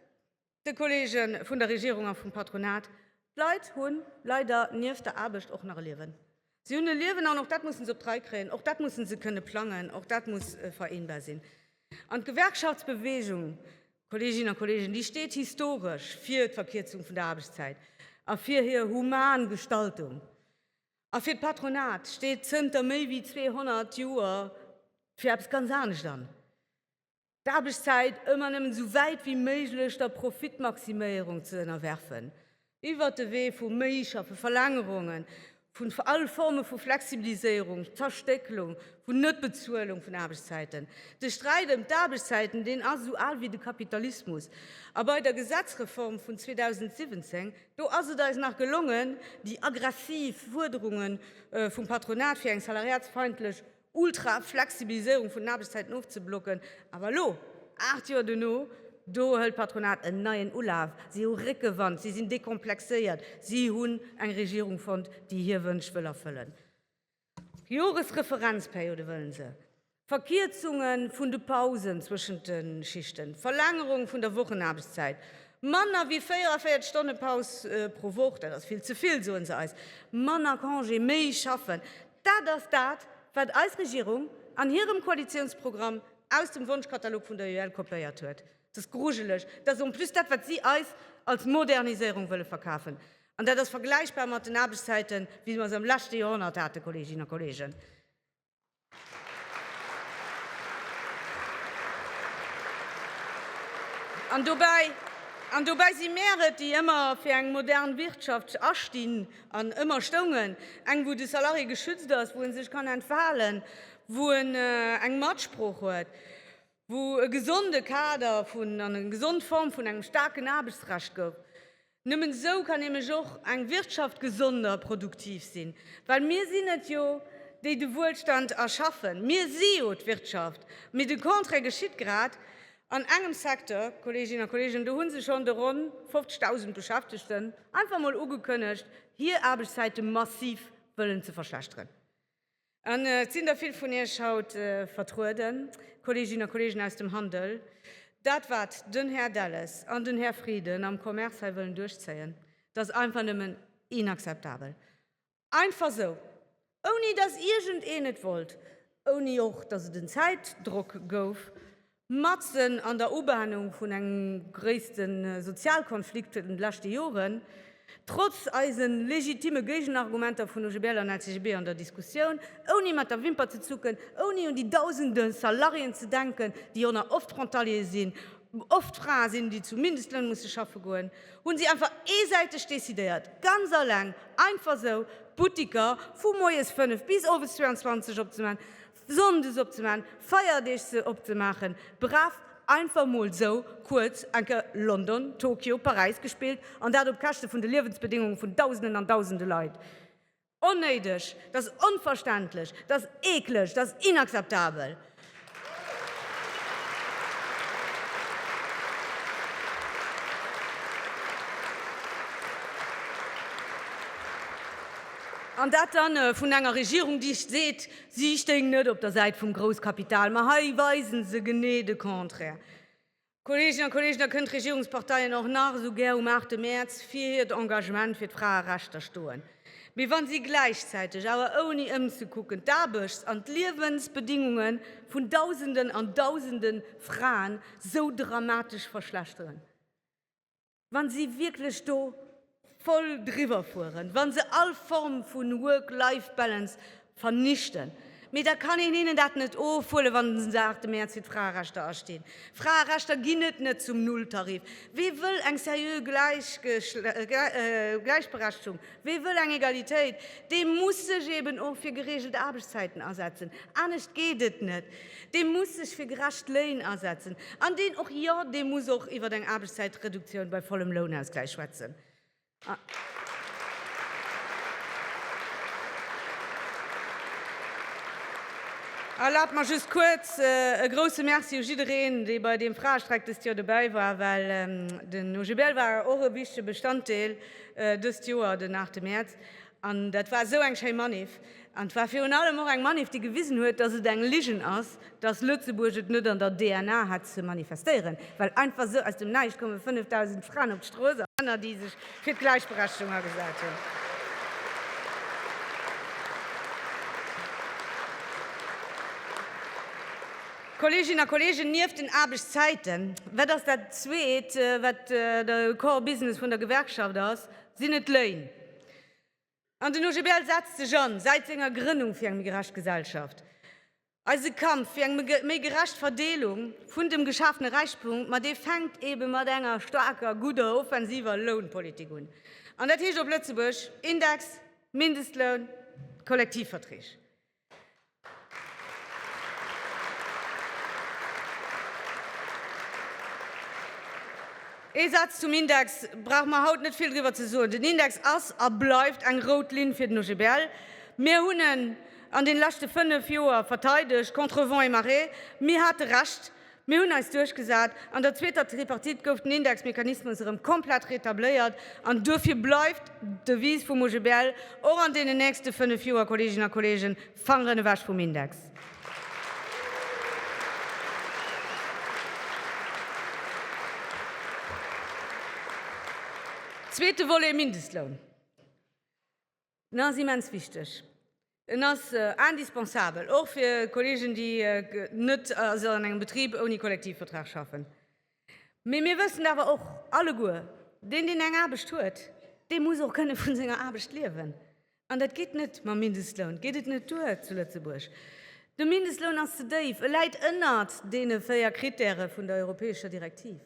de Kolleege vun der Regierung a vum Patronat, d'Leit hu leider nieft der Aarbecht och nach e Liewen. Si hunn e Liewen an och dat musse se op d'Rei kréien, och dat musse se kënne plangen, och dat muss vereenbar sinn. An d'Gewerkschaftsbewegung, Kolleeginnen a Kolleegen, déi steet historesch fir d'Verkierzung vun der Aarbechtszäit a fir hir human Gestaltung. A fir d'Patronat steet zënter méi wéi 200 Joer fir eppes ganz anescht an. d'Aarbechtszäit ëmmer nëmmen esou wäit wéi méiglech der Profitmaximéierung ze ënnerwerfen, iwwert de Wee vu méi schaffe Verlängerungen, vun all Forme vu Flexibiliséierung, Zerstécklung, vun Net-Bezuelung vun Aarbechtszäiten. De Sträit ëm d'Aarbechtszäiten, deen ass esou al wéi de Kapitalismus. A bei der Gesetzreform vun 2017, do ass et eis nach gelongen, déi aggressiv Fuerderunge vum Patronat fir eng salariatsfeindlech Ultra Flexibilisierung vun den Aarbechtszäiten ofzeblocken, awer elo, 8 Joer duerno, do hëlt d'Patronat en neien Ulaf. Si hu Réckewand, si sinn dekomplexéiert, si hunn eng Regierung fonnt, déi hir Wënsch wëll erfëllen. Joresreferenzperiode wëllen se, Verkierzunge vun de Pausen zwëschent de Schichten, Verlängerung vun der Wochenaarbechtszäit, manner wéi 44 Stonne Paus pro Woch, dat ass vill ze vill, soe se eis, manner Congé, méi schaffen. Dat ass dat, wat eis Regierung an hirem Koalitiounsprogramm aus dem Wonschkatalog vun der UEL kopéiert huet. Et ass grujeleg. Et ass en plus dat, wat si eis als Moderniséierung wëlle verkafen. An dat ass vergläichbar mat den Aarbechtszäiten, wéi mer se am leschte Joerhonnert haten, Kolleeginnen a Kolleegen. An dobäi si mär et, déi ëmmer fir eng modern Wirtschaft astinn. An ëmmer stoungen, eng wou de Salarié geschützt ass, wou e sech kann entfalen, wou en eng Matsprooch huet, wou e gesonde Kader vun an eng gesond Form vun engem staarken Aarbechtsrecht gouf. Nëmmen esou kann nämlech och eng Wirtschaft gesond a produktiv sinn, well mir sinn et jo déi de Wuelstand erschaffen, mir si jo d'Wirtschaft, mee de Contraire geschitt grad. An engem Secteur, Kolleeginnen a Kolleegen, do hu se schonn de ronn 50.000 Beschäftegten einfach emol ugekënnegt, hir Aarbechtszäite massiv wëllen ze verschlechteren. An et sinn der vill vun Iech haut vertrueden, Kolleeginnen a Kolleegen aus dem Handel. Dat, wat den Här Delles an den Här Frieden am Commerce hei wëllen duerchzéien, dat ass einfach nëmmen inakzeptabel. Einfach sou, ouni dass iergend een et wollt, ouni och dass et en Zäitdrock gouf, matzen an der Ubahnung vun engem gréisste Sozialkonflikt vun de leschte Joren, trotz eise legitime Géigenargumenter vun OGBL an LCGB an der Diskussioun, ouni mat der Wimper ze zucken, ouni un déi dausende Salariéen ze denken, déi jo nach oft Frontalier sinn, oft Frae sinn, déi zu Mindestlöhn musse schaffe goen. Hunn si einfach eesäiteg decidéiert, ganz alleng, einfach sou, d'Buttiker vu moies 5 bis owes 22 opzemaachen, sonndes opzemaachen, feierdeeg se opzemaachen, brav einfach mol sou kuerz eng Kéier London, Tokio, Paräis gespillt, an dat op Käschte vun de Liewensbedéngunge vun dausenden an dausende Leit. Onnéideg, dat ass onverständlech, dat ass eekleg, dat ass inakzeptabel! An dat da vun enger Regierung, déi seet, si stéing net op der Säit vum Grousskapital. Mä hei weise se genee de Contraire. Kolleeginnen a Kolleegen, da kënnen d'Regierungsparteien och nach esou gär um 8 Mäerz fir hiert Engagement fir d'Fraerechter stoen, mee wa si gläichzäiteg, awer ouni ëmzekucken, d'Aarbechts an d'Liewensbedingunge vun Dausenden an Dausende Fraen esou dramatesch verschlechteren, Wann si wierklech do voll driwwer fueren, wann se all Form vun Work-Life-Balance vernichten, mee da kann een hinnen dat net ofhuelen, wann se den 8 Mäerz fir d'Fraerechter astinn. Fraerechter ginn et net zum Nulltarif. Wee wëll eng seriö Gläichberechtegung? Wie wëll eng Egalitéit, dee muss sech eben och fir gereegelt Aarbechtszäiten asetzen, anescht geet et net. Dee muss sech fir gerecht Léin asetzen an deen och, jo, dee muss och iwwer eng Aarbechtszäitreduktioun bei vollem Lounausgläich schwätzen. Erlaabt mer just kuerz e grouse Merci u jiddereen, dee bei deem Fraestreik dëst Joer dobäi war, well den OGBL war och e wichtige Bestanddeel dëst Joer den 8 Mäerz an dat war esou eng schéi Manif an et war virun allem och eng Manif, déi gewisen huet, dass et eng Ligen ass, dass Lëtzebuerg et net an der DNA hat ze manifestéieren, well einfach esou aus dem Näischt koume 5.000 Fraen op d'Strooss a Männer, déi sech fir d'Gläichberechtigung agesat hunn. Kolleeginnen a Kolleegen, nieft den Aarbechtszäiten, wat ass dat Zweet, wat de Core Business vun der Gewerkschaft ass? sinn et d'Lëin. An den OGBL setzt sech an, säit senger Grënnung, fir eng méi gerecht Gesellschaft. Eise Kampf fir eng méi gerecht Verdeelung vun dem geschafene Räichtum, ma dee fänkt eebe mat enger staarker, gudder, offensiver Lounpolitik un. An dat heescht op Lëtzebuerg, Index, Mindestloun, Kollektivverträg. Ee Saz zum Index, brauche mer haut net vill driwwer ze soen. Den Index ass a bleift eng rout Linn fir den OGBL. Mir hunn en an den leschte 5 Joer verteidegt contre vents et marées. Mir hate Recht. Mir hunn eis duerchgesat. An der zweeter Tripartite gouf den Indexmechanismus erëm komplett retabléiert. An duerfir bleift d'Devise vum OGBL och an deenen nächste fënnef Joer, Kolleeginnen a Kolleegen, Fangeren ewech vum Index! Zweete Volet, Mindestloun. En ass immens wichteg. En ass indispensabel, och fir Kolleegen, déi net an engem Betrib ouni Kollektivvertrag schaffen. Mee mir wëssen awer och alleguer, Deen, deen eng Aarbecht huet, dee muss och kënne vun senger Aarbecht liewen. An dat geet net, mam Mindestloun geet et net duer zu Lëtzebuerg. De Mindestloun ass ze déif, e läit ënnert deene véier Krittäre vun der europäescher Direktiv.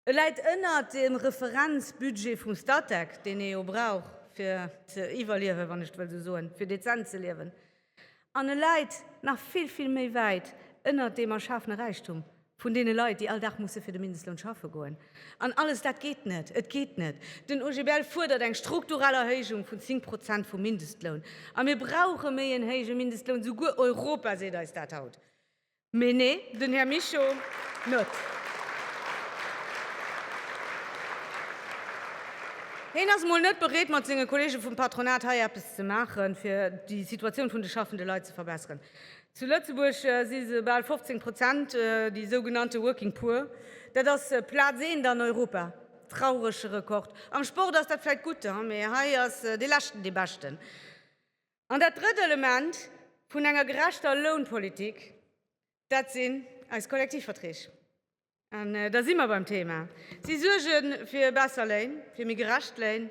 E läit ënnert dem Referenzbudget vum Statec, deen ee jo brauch, fir ze iwwerliewen, wann ech et wëll esou soen, fir dezent ze liewen, an e läit nach vill, vill méi wäit ënnert deem erschafene Räichtum vun deene Leit, déi all Dag musse fir de Mindestloun schaffe goen. An alles dat geet net! Et geet net! Den OGBL fuerdert eng strukturell Erhéijung vun 10 Prozent vum Mindestloun. A mir brauche méi en héije Mindestloun, souguer Europa seet eis dat haut. Mee nee, den Här Mischo net. Heen ass emol net bereet, mat senge Kollege vum Patronat hei eppes ze maachen, fir déi Situatioun vun de schaffende Leit ze verbesseren. Zu Lëtzebuerg si se bal 15 Prozent, déi sougenannte Working Poor. Dat ass Plaz eent an Europa. Traurege Rekord. Am Sport ass dat vläicht gutt, mee hei ass dee Leschten dee Beschten. An dat drëtt Element vun enger gerechter Lounpolitik, dat sinn eis Kollektivverträg. An da si mer beim Thema. Si suerge fir besser Léin, fir méi gerecht Léin.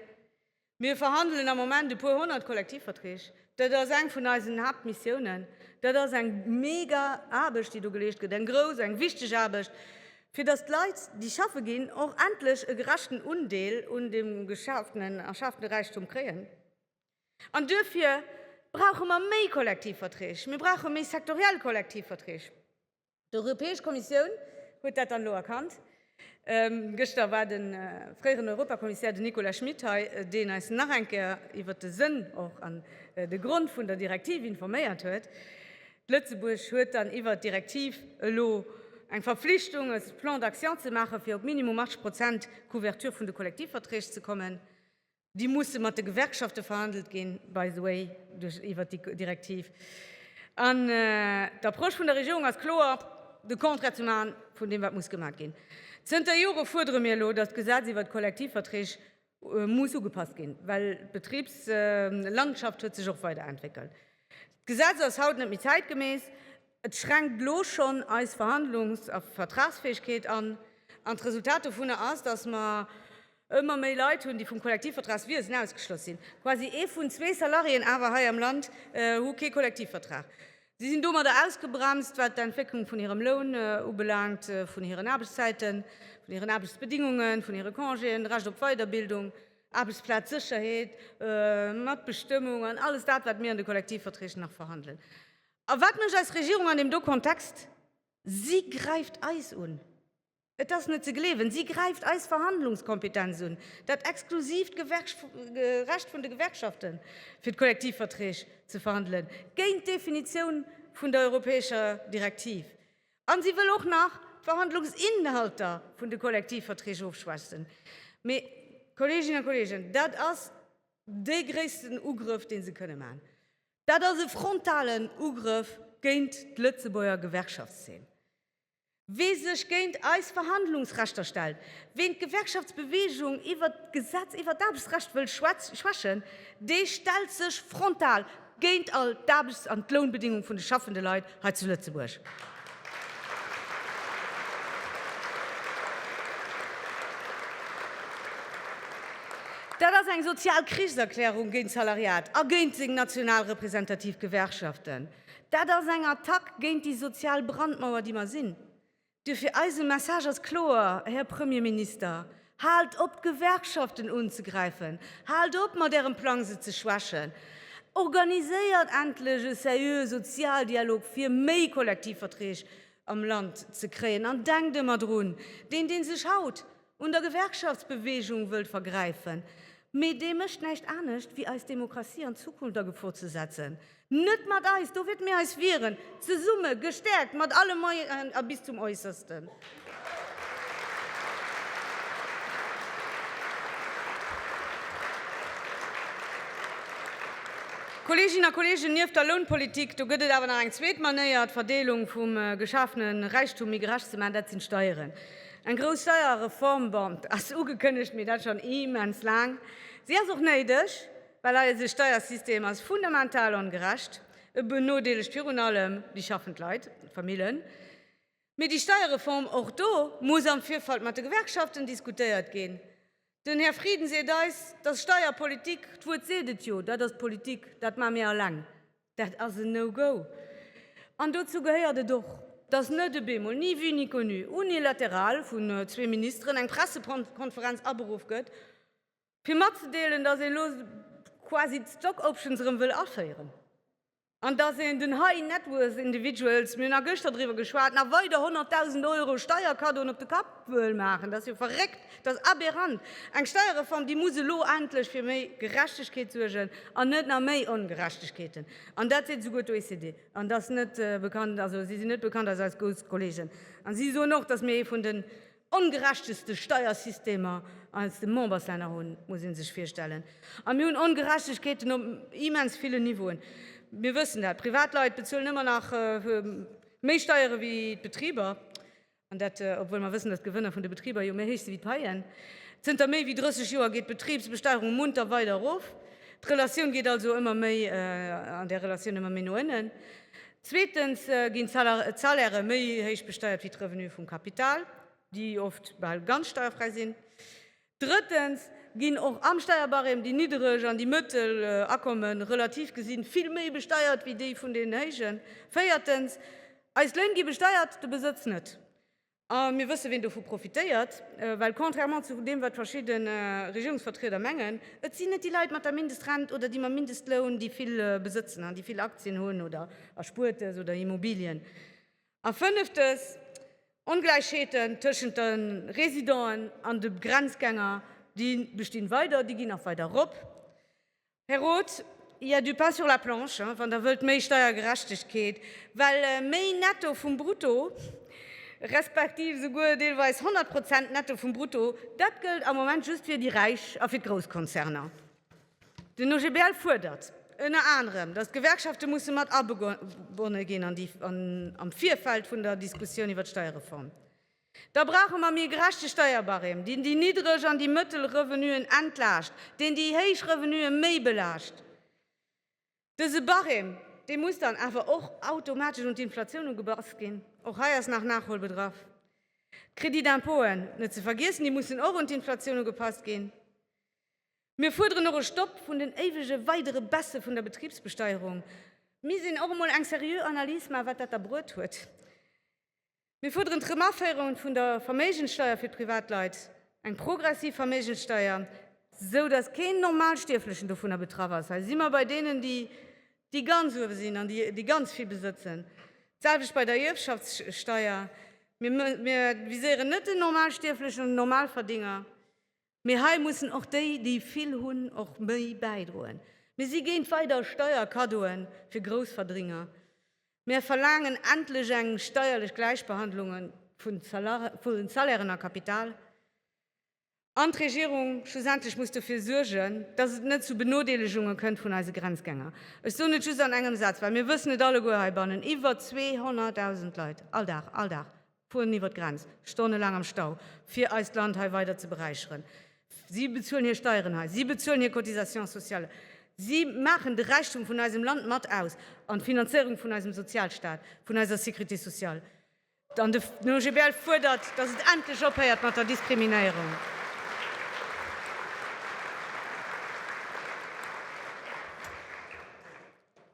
Mir verhandelen am Moment e puer honnert Kollektivverträg. Dat ass eng vun eisen Haaptmissiounen. Dat ass eng mega Aarbecht, déi do geleescht gëtt, eng grouss, eng wichteg Aarbecht, fir datt d'Leit, déi schaffe ginn, och endlech e gerechten Undeel un deem geschafenen, erschafene Räichtum kréien. An duerfir brauche mer méi Kollektivverträg, mir brauche méi sektoriell Kollektivverträg. D'Europäesch Kommissioun huet dat dann elo erkannt. Gëschter war de fréieren Europakommissär, den Nicolas Schmit hei, deen eis nach eng Kéier iwwert de Sënn och an de Grond vun der Direktiv informéiert huet. Lëtzebuerg huet dann iwwert d'Direktiv elo eng Verflichtung, e Plan d'action ze maachen, fir op minimum 80 Prozent Couverture vun de Kollektivverträg ze kommen. Déi musse mat de Gewerkschafte verhandelt ginn, by the way, duerch iwwert déi Direktiv. An d'Approche vun der Regierung ass kloer, de Contraire ze maachen vun deem, wat muss gemaach ginn. Zënter Jore fuerdere mir elo, datt d'Gesetz iwwert d'Kollektivverträg muss ugepasst ginn, well d'Betribslandschaft huet sech och weiderentwéckelt. D'Gesetz ass haut net méi zäitgemäss, et schränkt elo schonn eis Verhandlungs a Vertragsfäegkeet an. An d'Resultat dovunner ass, datt mer Ëmmer méi Leit hunn, déi vum Kollektivvertragswiesen ausgeschloss sinn. Quasi ee vun zwee Salariéen awer hei am Land hu kee Kollektivvertrag. Si sinn domadder ausgebremst, wat d'Entwécklung vun hirem Loun ubelaangt, vun hiren Aarbechtszäiten, vun hiren Aarbechtsbedingungen, vun hire Congéen, d'Recht op Weiderbildung, Aarbechtsplazsécherheet, Matbestëmmung an alles dat, wat mir an de Kollektivverträg nach verhandelen. A wat mécht eis Regierung an deem do Kontext? Si gräift eis un! Et ass net ze gleewen, si gräift eis Verhandlungskompetenz un, dat exklusiivt Recht vun de Gewerkschaften, fir d'Kollektivverträg ze verhandelen, géint d'Definitioun vun der europäescher Direktiv. A si wëll och nach d'Verhandlungsinhalter vun de Kollektivverträg ofschwächen. Mee, Kolleeginnen a Kolleegen, dat ass dee gréissten Ugrëff, dee se kënne maachen. Dat ass e frontalen Ugrëff géint d'Lëtzebuerger Gewerkschaftszeen. Wee sech géint eis Verhandlungsrechter stellt, ween d'Gewerkschaftsbewegung iwwert d'Gesetz iwwert d'Aarbechtsrecht wëll schwächen, dee stellt sech frontal géint all d'Aarbechts an d'Lounbedingung vun de schaffende Leit hei zu Lëtzebuerg. Dat ass eng sozial Krichserklärung géint d'Salariat a géint seng national representativ Gewerkschaften. Dat ass eng Attack géint déi sozial Brandmauer, déi mer sinn. Duerfir, Eise Message ass kloer, Här Premierminister, Haalt op, d'Gewerkschaften unzegräifen! Haalt op mat Ärem Plang, se ze schwächen! Organiséiert endlech e seriöe Sozialdialog, fir méi Kollektivverträg am Land ze kréien! An denkt ëmmer drun, Deen, dee sech haut un der Gewerkschaftsbewegung wëllt vergräifen, mee dee mécht näischt anescht wéi eis Demokratie an d'Zukunft a Gefor ze setzen. Net mat eis! Do wäert mir eis wieren, zesumme, gestäerkt, mat alle Moyenen a bis zum Äussersten. Kolleeginnen a Kolleegen, nieft der Lounpolitik, do gëtt et awer nach eng zweet Manéier, d'Verdeelung vum geschafene Räichtum méi gerecht ze maachen, dat sinn d'Steieren. Eng grouss Steierreform, bon, ass ugekënnegt, mee dat schonn immens laang. Si ass och néideg, well eise Steiersystem ass fundamental ongerecht. E benodeelegt virun allem déi schaffend Leit, d'Famillen. Mee déi Steierreform, och do muss am Virfeld mat de Gewerkschaften diskutéiert ginn. Den Här Frieden seet eis, dass Steierpolitik, d'Wuert seet et jo, dat ass Politik, dat maache mir alleng. Dat ass en No-Go. An dozou gehéiert et och, dass net ebe mol ni vue ni connu unilateral vun zwee Ministeren eng Pressekonferenz aberuff gëtt, fir matzedeelen, dass ee lo quasi d'Stock-Options erëm wëll aféieren. An dass een den High Net Worth Individuals, mir hunn a gëschter driwwer geschwat, nach weider 100.000 Euro Steierkaddoen op de Kapp wëll maachen, dat ass jo verréckt, dat ass aberrant. Eng Steierreform, déi muss elo endlech fir méi Gerechtegkeet suergen an net nach méi Ongerechtegkeeten. An dat seet esouguer d'OECD. An dat ass net bekannt, also si sinn net bekannt als eis grouss Kollegen. A si soen och, dass mir ee vun de ongerechteste Steiersystemer eis de Memberslänner hunn, muss ee sech virstellen. A mir hunn Ongerechtegkeeten op immens villen Niveauen. Mir wëssen dat, d'Privatleit bezuelen ëmmer nach méi Steiere wéi d'Betriber, an dat obwuel mer wëssen, datt d'Gewënner vun de Betriber jo méi héich si wéi d'Paien. Zënter méi wéi 30 Joer geet d'Betribsbesteierung munter weider erof. D'Relatioun geet also ëmmer méi an där Relatioun ëmmer méi no ënnen. Zweetens ginn d'Salaire méi héich besteiert wéi d'Revenue vum Kapital, déi oft bal ganz steierfräi sinn. Drëttens ginn och am Steierbarème déi niddereg an déi mëttel Akomme relativ gesi vill méi besteiert wéi déi vun deenen héijen. Véiertens, eis Léin gi besteiert, de Besëtz net. A mir wësse ween dovu profitéiert. Well contrairement zu deem wat verschidde Regierungsvertrieder mengen, et sinn net déi Leit mat der Mindestrent oder déi mam Mindestloun déi vill besëtzen an déi vill Aktien hunn oder Erspuertes oder Immobilien. A fënneftes, Ongläichheeten tëschent de Residenten an de Grenzgänger, déi bestinn weider, déi ginn nach weider erop. Här Roth, il y a du pain sur la planche, wann Der wëllt méi Steiergerechtegkeet, well méi Netto vum Brutto, respektiv esouguer deelweis 100 Prozent Netto vum Brutto, dat gëllt am Moment just fir déi Räich a fir d'Grousskonzerner. Den OGBL fuerdert ënner anerem, datt d'Gewerkschafte musse mat agebonne ginn am Virfeld vun der Diskussioun iwwer d'Steierreform. Da brauche mer méi gerechte Steierbarème, deen déi niddreg an déi mëttel Revenuen entlaascht, deen déi héich Revenue méi belaascht. Dëse Barème, dee muss dann awer och automatesch un d'Inflatioun ugepasst ginn. Och hei ass nach Nachholbedarf. D'Crédit d'impôten, net ze vergiessen, déi mussen och un d'Inflatioun ugepasst ginn. Mir fuerderen och e Stopp vun den éiwege weidere Baisse vun der Betribsbesteierung. Mir missten och emol eng seriö Analys maachen, wat dat da bruet huet. Mir fuerderen d'Remaféierung vun der Verméigenssteuer fir d'Privatleit, eng progressiv Verméigenssteuer, esou datt keen Normalstierflechen dovunner betraff ass, hei si mer bei deenen, déi ganz uewe sinn an déi ganz vill besëtzen, d'selwecht bei der Ierfschaftssteuer, mir viséieren net den Normalstierflechen an den Normalverdinger. Mee hei mussen och déi, déi vill hunn, och méi bäidroen. Mir si géint weider Steierkaddoe fir Groussverdringer. Mär verlaangen endlech eng steierlech Gläichbehandlung vu Salairen a Kapital. An d'Regierung schlussendlech muss dofir suergen, dass et net zu Benodeelegunge kënnt vun eise Grenzgänger. Ech soen et just an engem Saz, well mir wëssen et alleguer heibannen, Iwwer 200.000 Leit all Dag, all Dag, Fueren iwwert d'Grenz, stonnelaang am Stau, fir eist Land hei weider ze beräicheren. Si bezuelen hir Steieren hei, si bezuelen hir Cotisations sociales, si maachen de Räichtum vun eisem Land mat aus an d'Finanzéierung vun eisem Sozialstaat, vun eiser Sécurité sociale. An den OGBL fuerdert, dass et endlech ophéiert mat der Diskriminéierung.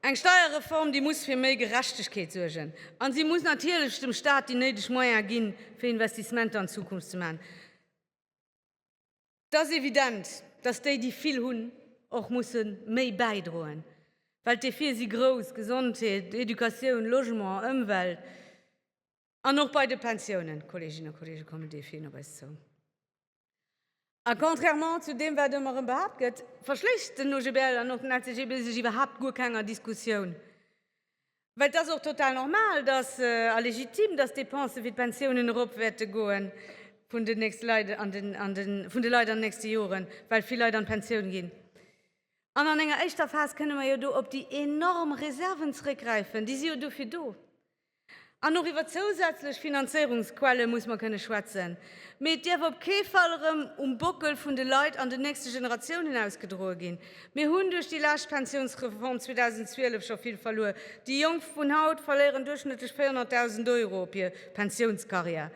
Eng Steierreform, déi muss fir méi Gerechtegkeet suergen a si muss natierlech dem Staat déi néideg Moyene ginn, fir Investissementer an d'Zukunft ze maachen. Et ass evident, datt déi, déi vill hunn, och musse méi bäidroen, well d'Defie si grouss, Gesondheet, Educatioun, Logement, Ëmwelt. An och bei de Pensiounen, Kolleeginnen a Kolleegen, kommen Defien op eis zou. A contrairement zu deem, wat ëmmer erëm behaapt gëtt, verschléisst den OGBL an och den LCGB sech iwwerhaapt guer kenger Diskussioun. Well et ass och total normal, dass, a legitim, dass d'Depensë fir d'Pensiounen erop wäerte goe vun den nächste Leit an den, an de vun de Leit an den nächste Joren, well vill Leit an d'Pensioun ginn. An an enger éischter Phas kënne mer jo do op déi enorm Reserven zrëckgräifen, déi si jo dofir do. An och iwwer zousätzlech Finanzéierungsquelle muss mer kënne schwätzen. Mee et däerf op kee Fall erëm um Bockel vun de Leit an den nächste Generatiounen ausgedroe ginn. Mir hunn duerch déi lescht Pensiounsreform 2012 scho vill verluer. Déi Jonk vun haut verléieren duerchschnëttlech 400.000 Euro op hir Pensiounscarrière.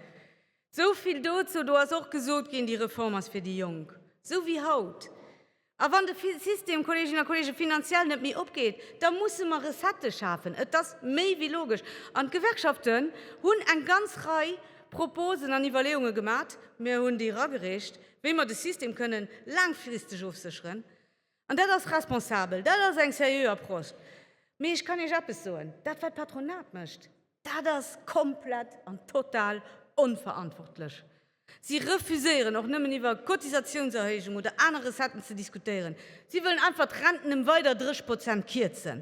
Esou vill dozou. Do ass och gesot ginn, déi Reform ass fir déi Jonk. Esou wéi haut. A wann de System, Kolleeginnen a Kolleegen, finanziell net méi opgeet, da musse mer Recettë schafen. Et ass méi wéi logesch. An d'Gewerkschaften hunn eng ganz Rei Proposen an Iwwerleeunge gemat, mir hunn déi eragereecht, wéi mer de System kënnen laangfristeg ofsécheren. An dat ass responsabel, dat ass eng seriö Approche. Mee ech kann Iech eppes soen, Dat, wat d'Patronat mécht, dat ass komplett an total onverantwortlech. Si refuséieren och nëmmen iwwer Cotisatiounserhéijung oder aner Recetten ze diskutéieren. Si wëllen einfach d'Renten ëm weider 30 Prozent kierzen,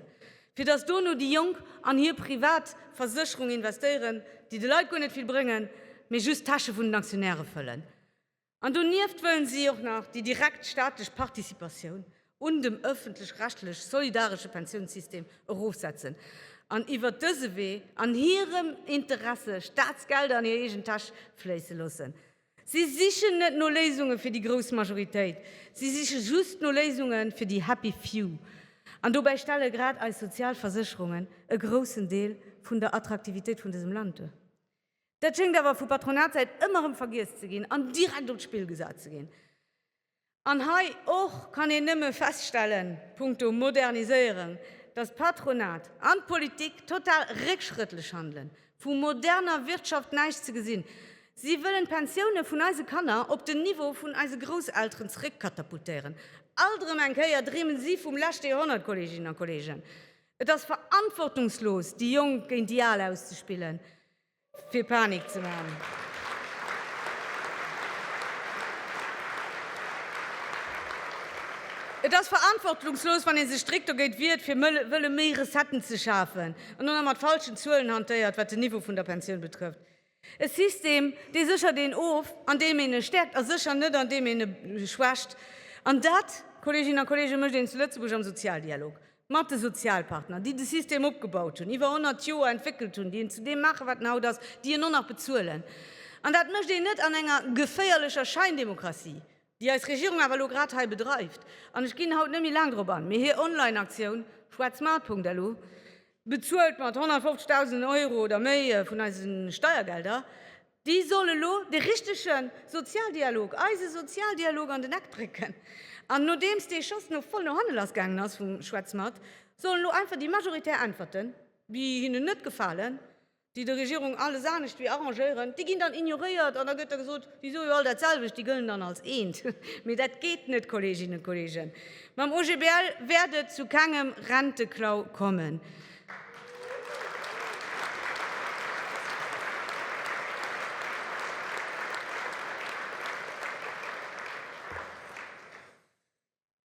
fir datt dono déi Jonk an hir privat Versécherung investéieren, déi de Leit guer net vill bréngen, mee just d'Täsche vun den Aktionäre fëllen. An donieft wëllen si och nach déi direkt staatlech Participatioun. un dem ëffentlech-rechtlech solidaresche Pensiounssystem erofsetzen an iwwert dëse Wee an hirem Interesse Staatsgelder an hir eegen Täsch fléisse loossen. Si sichen net no Léisunge fir déi grouss Majoritéit, si siche just no Léisunge fir déi happy few. An dobäi stelle grad eis sozial Versécherungen e groussen Deel vun der Attraktivitéit vun dësem Land duer. Dat schéngt awer vu Patronatssäit ëmmer erëm vergiess ze ginn an direkt op d'Spill gesat ze ginn. An hei och kann een nëmme feststellen, punkto Moderniséierung, dass d'Patronat an d'Politik total réckschrëttlech handelen. Vu moderner Wirtschaft näischt ze gesinn. Si wëllen d'Pensioune vun eise Kanner op den Niveau vun eise Grousselteren zeréckkatapultéieren. Alt erëm eng Kéier dreemen si vum leschte Joerhonnert, Kolleeginnen a Kolleegen. Et ass verantwortungslos, déi Jonk géint déi Al auszespillen. fir Panik ze maachen. Et ass verantwortlungslos, wann ee sech strikt dogéint wiert, fir wëlle méi Recetten ze schafen, an dann nach mat falschen Zuelen hantéiert, wat den Niveau vun der Pensioun betrëfft. E System, dee séchert een of, andeem een e stäerkt, a sécher net, andeem een e schwächt. An dat, Kolleeginnen a Kolleegen, mécht een zu Lëtzebuerg am Sozialdialog. mat de Sozialpartner, déi de System opgebaut hunn, iwwer honnert Joer entwéckelt hunn, déi en zu deem maachen, wat en haut ass, déi en och nach bezuelen. An dat mécht een net an enger geféierlecher Schäindemokratie, déi eis Regierung awer elo grad hei bedreift. An ech ginn haut net méi laang drop an, mee hir Online-Aktioun schwarzmarkt.lu, bezuelt mat 150.000 Euro oder méi vun eise Steiergelder, Déi soll elo de richtege Sozialdialog, eise Sozialdialog an den Eck drécken. An nodeems dee Schoss no voll no hannen lass gaangen ass vum Schwätzmat, sollen elo einfach déi majoritär Äntwerten, déi hinnen net gefalen, déi der Regierung alles anescht wéi arrangéieren, déi ginn dann ignoréiert an da gëtt da gesot, déi soe jo all dat selwecht, déi gëllen dann als eent. Mee dat geet net, Kolleeginnen a Kolleegen. Mam OGBL wäert et zu kengem Renteklau kommen.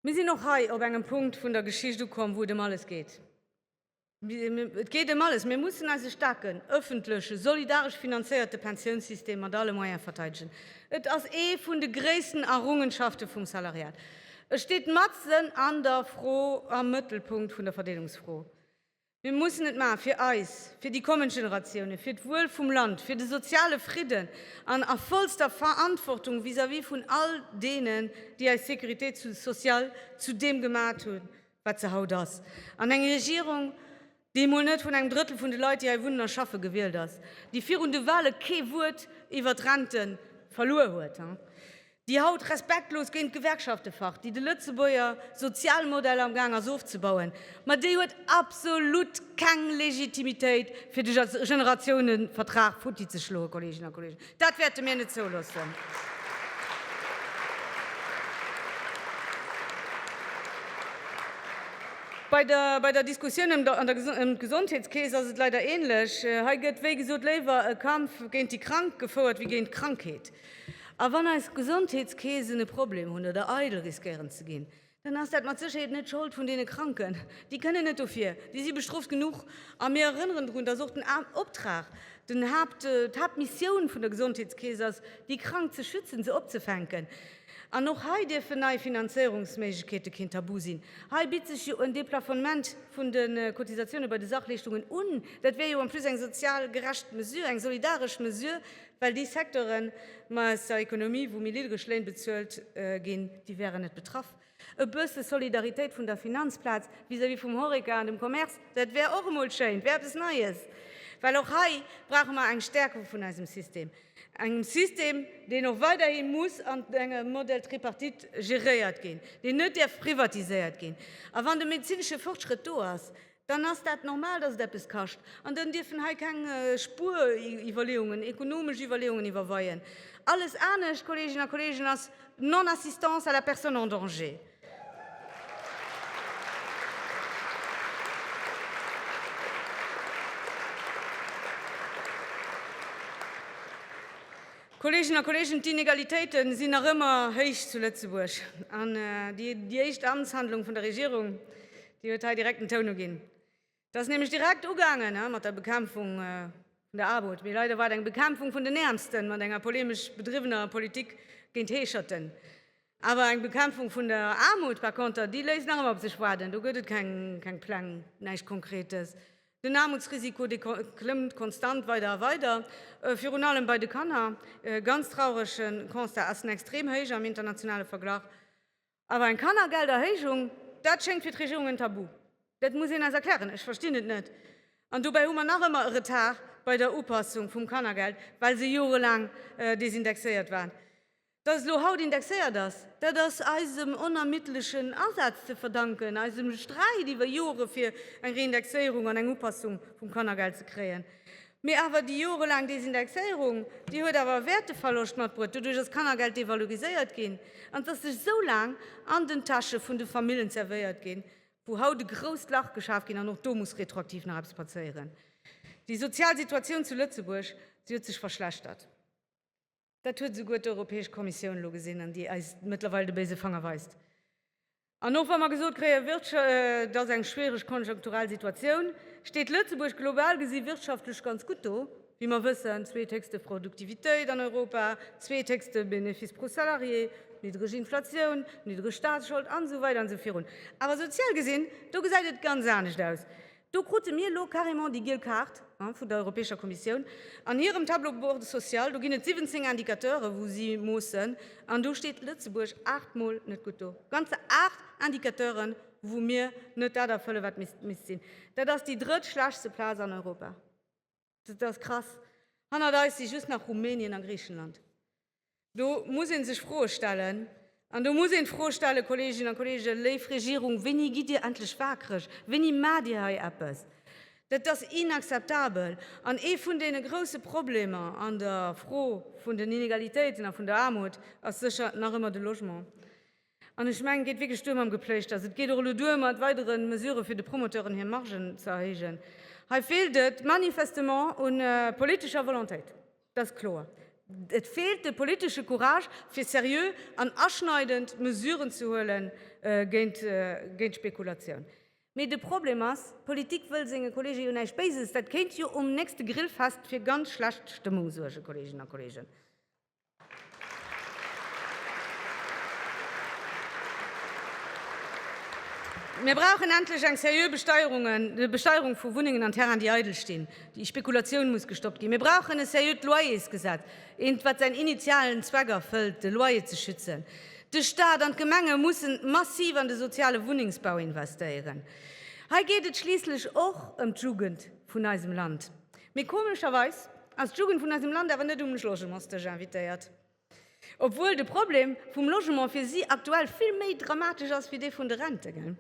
Mir sinn och hei op engem Punkt vun der Geschicht ukomm, wou et ëm alles geet. Et geet ëm alles. Mir mussen eise staarken, ëffentleche, solidaresch finanzéierte Pensiounssystem mat alle Moyene verteidegen. Et ass ee vun de gréissten Errungenschafte vum Salariat. E steet matzen an der Fro, am Mëttelpunkt vun der Verdeelungsfro. Mir mussen et maachen, fir eis, fir déi kommend Generatiounen, fir d'Wuel vum Land, fir de soziale Fridden an a vollster Verantwortung vis-à-vis vun all deenen, déi eis Sécurité sociale zu deem gemat hunn, wat se haut ass, an eng Regierung, dee mol net vun engem Drëttel vun de Leit, déi hei wunnen a schaffen, gewielt ass, dee virun de Wahle kee Wuert iwwert d'Rente verluer huet, déi haut respektlos géint d'Gewerkschafte facht, déi de Lëtzebuerger Sozialmodell am gaang ass ofzebauen, ma déi huet absolut keng Legitimitéit, fir de Generatiounevertrag futti ze schloen, Kolleeginnen a Kolleegen. Dat wäerte mir net zouloossen. Bei der Diskussioun ëm d'Gesondheetskeess ass et leider ähnlech. Hei gëtt wéi gesot léiwer e Kampf géint déi Krank gefouert wéi géint d'Krankheet. A wann eis Gesondheetskeesen e Problem hunn oder eidel riskéieren ze ginn, dann ass dat mat Sécherheet net d'Schold vun deene Kranken. Déi kënnen net dofir, déi si bestrooft genuch. A mir erënneren drun, dass och den Optrag, den Haapt, d'Haaptmissioun vun der Gesondheetskeess ass, déi Krank ze schützen, se opzefänken. An och hei dierfen nei Finanzéierungsméiglechkeete keen Tabu sinn. Hei bitt sech jo en Deplafonnement vun de Cotisatiounen bei de Sachleeschtungen un. Dat wär jo en plus eng sozial gerecht Mesure, eng solidaresch Mesure Well déi Secteuren aus der Ekonomie, wou méi niddreg Léin bezuelt ginn, déi wäeren net betraff. E bësse Solidaritéit vun der Finanzplaz vis-à-vis vum Horeca an dem Commerce, dat wär och emol schéin, wär eppes Neies. Well och hei brauche mer eng Stärkung vun eisem System, engem System, deen och weiderhi muss an engem Modell Tripartite geréiert ginn, deen net däerf privatiséiert ginn. A wann de medezinesche Fortschrëtt do ass, dann ass dat normal, dass et eppes kascht an dann dierfen hei keng Spueriwwerleeungen, ekonomesch Iwwerleeungen iwwerweien. Alles anescht, Kolleeginnen a Kolleegen, ass Non-assistance à la personne en danger. Kolleeginnen a Kolleegen, d'Inegalitéite sinn nach ëmmer héich zu Lëtzebuerg an déi éischt Amtshandlung vun der Regierung, Dir huet hei direkt den Toun uginn. Et ass nämlech direkt ugaangen mat der Bekämpfung vun der Aarmut, mee leider war et eng Bekämpfung vun den Äermsten mat enger polemesch bedriwwener Politik géint Heescherten. Awer eng Bekämpfung vun der Aarmut par konter, déi léisst nach ëmmer op sech waarden. Do gëtt et keng Pläng, näischt Konkretes. Den Aarmutsrisiko, dee klëmmt konstant weider a weider, virun allem bei de Kanner. E ganz traurege Constat, Essen extrem héich am internationale Verglach. Awer eng Kannergelderhéijung, dat schéngt fir d'Regierung en Tabu. Dat muss een eis erklären, ech verstinn et net. An dobäi hu mer nach ëmmer e Retard bei der Upassung vum Kannergeld, well se jorelaang desindexéiert war. Datt et elo haut indexéiert ass, dat ass eisem onermiddlechen Asaz ze verdanken, eisem Sträit iwwer Jore fir eng Reindexéierung an eng Upassung vum Kannergeld ze kréien. Mee awer déi jorelaang Desindexéierung, déi huet awer e Wäerteverloscht matbruet. Doduerch ass d'Kannergeld devaloriséiert ginn an ass duerch esou laang an den Täsche vun de Famillen zerwéiert ginn, wou haut e grousst Lach geschaf ginn an och do muss retroaktiv nach eppes passéieren. Déi sozial Situatioun zu Lëtzebuerg, si huet sech verschlechtert. Dat huet esouguer d'Europäesch Kommissioun elo gesinn an déi eis mëttlerweil de béise Fanger weist. An och wa mer gesot kréien, et ass eng schwiereg konjunkturell Situatioun, steet Lëtzebuerg global gesi wirtschaftlech ganz gutt do. Wéi mer wëssen, zweethéchste Produktivitéit an Europa, zweethéchste Bénéfice pro Salarié, niddreg Inflatioun, niddreg Staatsschold an esou weider an esou virun. Awer sozial gesinn, do gesäit et ganz anescht aus. Do krute mir elo carrément déi giel Kaart vun der Europäescher Kommissioun. An hirem Tableau bord social, do ginn et 17 Indicateuren, wou si moossen, an do steet Lëtzebuerg aacht Mol net gutt do. Ganze aacht Indicateuren, wou mir net dat erfëlle wat misst sinn. Dat ass déi drëtt schlechtste Plaz an Europa. Dat ass krass. Hannert eis si just nach Rumänien a Griichenland. Do muss ee sech Froe stellen. An do muss een d'Fro stellen, Kolleeginnen a Kolleegen, léif Regierung, wéini gitt Dir endlech wakereg? Wéini maacht Dir hei eppes? Dat ass inakzeptabel. An ee vun deene grousse Problemer an der Fro vun den Inegalitéiten a vun der Aarmut ass sécher nach ëmmer de Logement. An ech mengen, et geet wierklech duer mam Gepléischters. Et geet och elo duer mat weidere Mesurë fir de Promoteuren hir Margen ze erhéijen. Hei feelt et manifestement u politescher Volontéit, dat ass kloer. Et feelt de politesche Courage, fir seriö an aschneidend Mesuren ze huele géint d'Spekulatioun. Mee de Problem ass, d'Politik wëll senge Kolleegen jo näischt Béises. Dat kéint jo um nächste Grillfest fir ganz schlecht Stëmmung suergen, Kolleeginnen a Kolleegen. Mir brauchen endlech eng seriö Besteierung vu Wunnengen an Terrainen, déi eidel stinn. Déi Spekulatioun muss gestoppt ginn. Mir brauchen e seriöt Loyersgesetz, eent, wat säin initialen Zweck erfëllt, de Loyer ze schützen. De Staat an d'Gemenge mussen massiv an de soziale Wunnengsbau investéieren. Hei geet et schliisslech och ëm d'Jugend vun eisem Land. Mee komescherweis Ass d'Jugend vun eisem Land awer net um Logementsdësch invitéiert, obwuel de Problem vum Logement fir si aktuell vill méi dramatesch ass wéi dee vun de Rente, gell?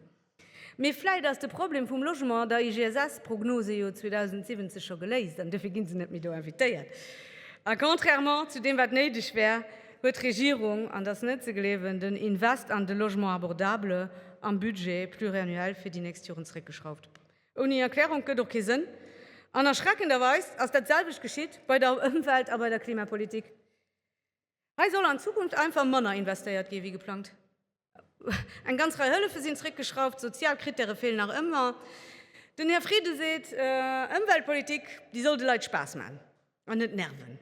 Mee vläit ass de Problem vum Logement an der IGSS-Prognose jo 2070 scho geléist an duerfir ginn se net méi do invitéiert. A contrairement zu deem wat néideg wär, huet d'Regierung, an et ass net ze gleewen, den Invest an de Logement abordable am Budget pluriannuel fir déi nächst Joren zeréckgeschrauft. Ouni Erklärung gëtt och kee Sënn. An erschreckenderweis ass dat selwecht geschitt bei der Ëmwelt a bei der Klimapolitik. Hei soll an Zukunft einfach manner investéiert gi wéi geplangt. Eng ganz Rei Hëllefe sinn zréckgeschrauft, sozial Krittäre feelen nach ëmmer. Den Här Frieden seet, Ëmweltpolitik, déi soll de Leit Spaass maachen an net nerven.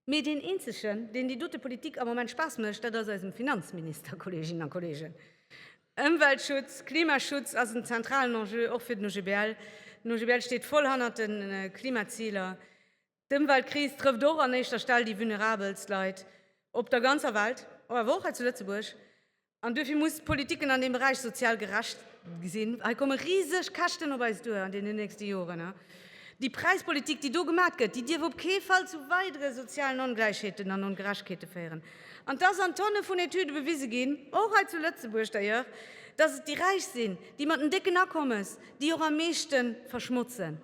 Mee deen eenzegen, deen déi dote Politik am Moment Spaass mécht, dat ass eisem Finanzminister, Kolleeginnen a Kolleegen. Ëmweltschutz, Klimaschutz ass en zentralen Enjeu, och fir den OGBL. Den OGBL steet voll hannert de Klimaziler. D'Ëmweltkris trëfft och an éischter Stell déi vulnerabelst Leit op der ganzer Welt, awer och hei zu Lëtzebuerg. An duerfir muss d'Politiken an deem Beräich sozial gerecht sinn. Hei komme riseg Käschten op eis duer an deenen nächste Joren. Déi Präispolitik, déi do gemat gëtt, déi dierf op kee Fall zu weidere sozialen Ongläichheeten an Ongerechkete féieren. An et ass an Tonne vun Etüde bewise ginn, och hei zu Lëtzebuerg d'ailleurs, datt et déi Räich sinn, déi mat den décken Akommes, déi och am meeschte verschmotzen.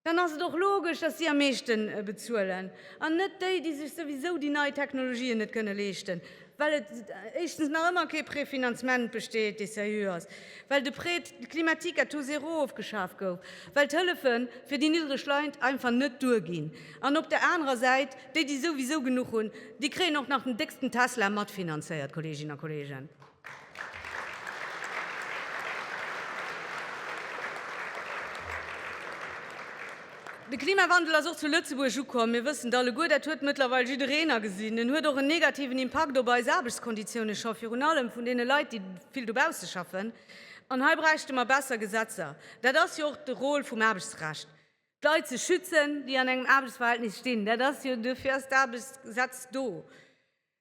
Dann ass et och logesch, dass si am meeschte bezuelen an net déi, déi sech souwisou déi nei Technologien net kënne leeschten, well et éischtens nach ëmmer kee Préfinancement besteet, dee seriö ass, well de Prêt climatique à taux zéro ofgeschaf gouf, well d'Hëllefe fir déi niddereg Leit einfach net duerginn an op der anerer Säit déi, déi souwisou genuch hunn, déi kréien och nach den décksten Tesla matfinanzéiert, Kolleeginnen a Kolleegen. De Klimawandel ass och zu Lëtzebuerg ukomm. Mir wëssen et alleguer, dat huet mëttlerweil jiddereen agesinn. En huet och en negativen Impakt op eis Aarbechtskonditioune scho, virun allem vun deene Leit, déi vill dobausse schaffen. An hei bräichte mer besser Gesetzer. Dat ass jo och de Rôle vum Aarbechtsrecht, d'Leit ze schützen, déi an engem Aarbechtsverhältnis stinn. Dat ass jo, dofir ass d'Aarbechtsgesetz do.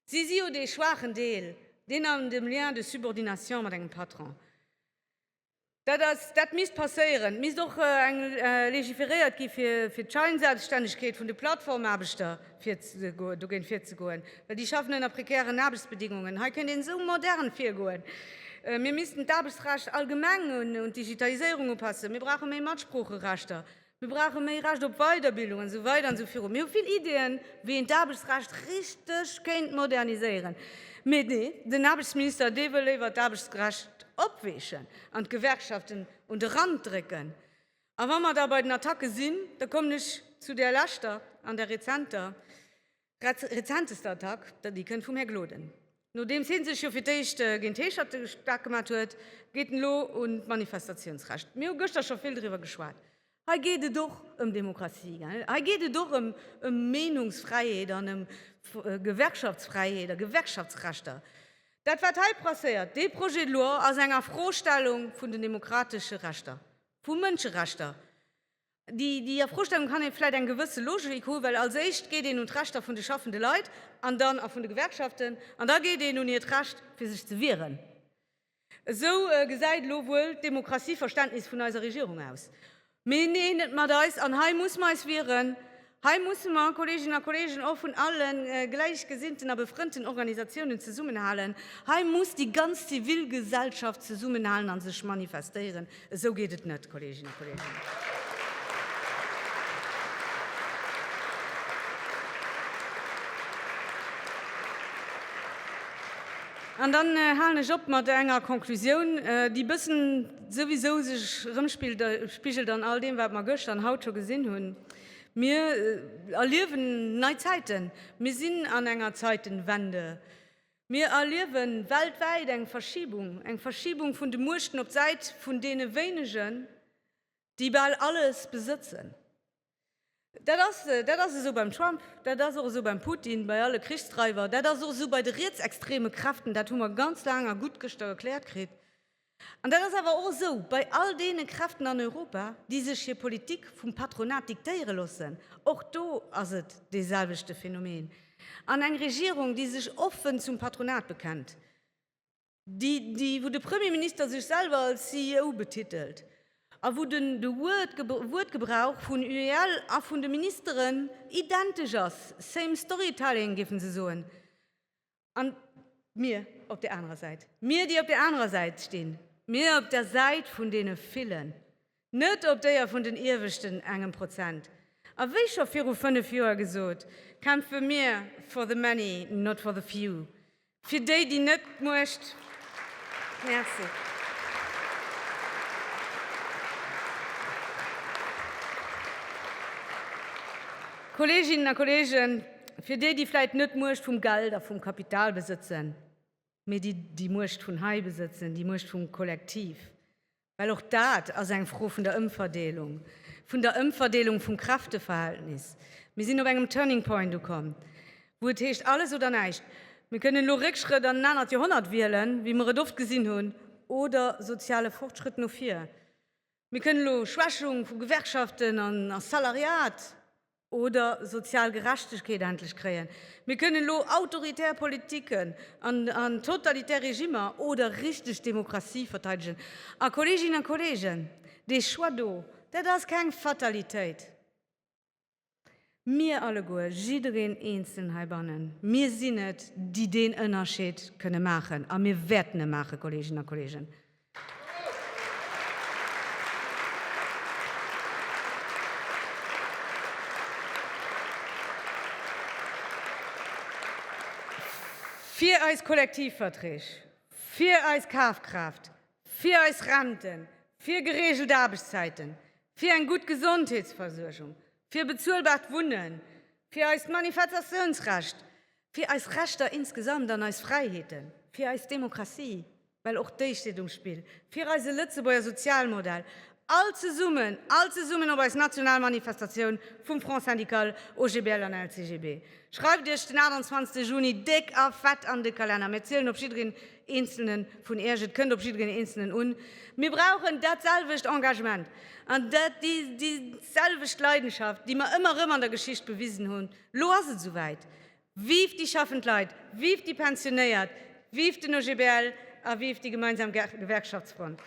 Si si jo dee schwaachen Deel, deen an dem Lien de subordination mat engem Patron. Dat ass, dat misst passéieren. Et misst och eng legiferéiert gi fir d'Scheinselbststännegkeet vun de Plattformaarbechter dogéint virzegoen, well déi schaffen ënner prekären Aarbechtsbedingungen. Hei kéint een esou modern virgoen. Mir missten d'Aarbechtsrecht allgemeng un d'Digitaliséierung upassen. Mir brauche méi Matsproocherechter. Mir brauche méi Recht op Weiderbildung an esou weider an esou viru. Mir hu vill Ideeën, wéi een d'Aarbechtsrecht richteg kéint moderniséieren. Mee nee, den Aarbechtsminister, dee wëll léiwer d'Aarbechtsrecht opweechen an d'Gewerkschaften un de Rand drécken. A wa mer da bei den Attacke sinn, da kommen ech zu där leschter an där rezenter. Grad rezenteste Attack, déi kënnt vum Här Gloden. Nodeems hie sech jo fir d'éischt géint d'Heescherte staark gemat huet, geet en elo un d'Manifestatiounsrecht. Mir hu gëschter scho vill driwwer geschwat. Hei geet et och ëm Demokratie, gell? Hei geet et och ëm Meenungsfräiheet an ëm Gewerkschaftsfräiheet a Gewerkschaftsrechter. Dat wat hei passéiert, dee Projet de loi ass eng Afrostellung vun den demokratesche Rechter, vu Mënscherechter. Déi Afrostellung kann ee vläicht eng gewësse Logik hu well als éischt geet een un d'Rechter vun de schaffende Leit an dann a vun de Gewerkschaften an da geet een un hiert Recht fir sech ze wieren. Esou gesäit elo wuel d'Demokratie-Verständnis vun eiser Regierung aus. Mee neen, net mat eis an hei muss mer eis wieren. Hei musse mer, Kolleeginnen a Kolleegen, och vun alle gläichgesinnten a befrënnten Organisatiounen zesummenhalen. Hei muss déi ganz Zivilgesellschaft zesummenhalen a sech manifestéieren. Esou geet et net, Kolleeginnen a Kolleegen! An dann halen ech op mat enger Konklusioun, déi e bëssen souwisou sech erëmspigelt an all deem, wat mer gëschter an haut scho gesinn hunn. Mir erliewen nei Zäiten. Mir sinn an enger Zeitenwende. Mir erliewe weltwäit eng Verschibung, eng Verschibung vun de Muechten op d'Säit vun deene Wéinegen, déi bal alles besëtzen. Dat ass, dat ass esou beim Trump, dat ass och esou beim Putin, bei alle Krichsdreiwer, dat ass och esou bei de rietsextreme Kräften. Dat hu mer ganz laang a gutt gëschter erkläert kritt. An dat ass awer och esou bei all deene Kräften an Europa, déi sech hir Politik vum Patronat diktéiere loossen. Och do ass et dee selwechte Phänomen. An eng Regierung, déi sech offen zum Patronat bekennt, déi, wou de Premierminister sech selwer als CEO betitelt a wou den Wuertgebrauch vun UEL a vun de Ministeren identesch ass, same storytelling, géifen se soen, An mir op där anerer Säit, mir, déi op där anerer Säit stinn, mir op der Säit vun deene Villen, net op déier vun den ieweschten engem Prozent. A wéi scho viru fënnef Joer gesot, kämpfe mir for the many, not for the few, fir déi, déi net d'Muecht Merci. Kolleeginnen a Kolleegen, Fir déi, déi vläit net d'Muecht vum Geld a vum Kapital besëtzen, mee déi déi Muecht vun hei besëtzen, déi Muecht vum Kollektiv, well och dat ass eng Fro vun der Ëmverdeelung, vun der Ëmverdeelung vum Kräfteverhältnis. Mir sinn op engem Turning Point ukomm, wou et heescht, alles oder näischt. Mir kënnen elo Réckschrëtt an en anert Joerhonnert wielen, wéi mer et oft gesinn hunn, oder soziale Fortschrëtt no vir. Mir kënnen elo Schwächung vu Gewerkschaften a Salariat oder sozial Gerechtegkeet endlech kréien. Mir kënnen elo autoritär Politiken an totalitär Regimmer oder richteg Demokratie verteidegen. A Kolleeginnen a Kolleegen, dee Choix do, dat ass keng Fatalitéit. Mir alleguer, jiddereen Eenzelen heibannen, mir sinn et, déi deen Ënnerscheed kënne maachen a mir wäerten e maachen, Kolleeginnen a Kolleegen. Fir eis Kollektivverträg, fir eis Kafkraaft, fir eis Renten, fir gereegelt Aarbechtszäiten, Fir eng gutt Gesondheetsversuergung, fir bezuelbart Wunnen, fir eist Manifetatiounsrecht, fir eis Rechter insgesamt an eis Fräiheeten, fir eis Demokratie, well och déi steet um Spill, fir eise Lëtzebuerger Sozialmodell, all zesummen, all zesummen op eis national Manifestatioun vum Front syndical, OGBL an LCGB. Schreift Iech den 28 Juni déck a fett an de Kalenner. Mir zielen op jiddereen. Eenzelnen vun Iech, et kënnt op jiddereen Eenzelnen un. Mir brauchen datselwecht Engagement an déiselwecht Leidenschaft, déi mer ëmmer erëm an der Geschicht bewisen hunn. Elo ass et souwäit. Vive déi schaffend Leit, vive déi Pensionéiert, vive den OGBL a vive déi gemeinsam Gewerkschaftsfront!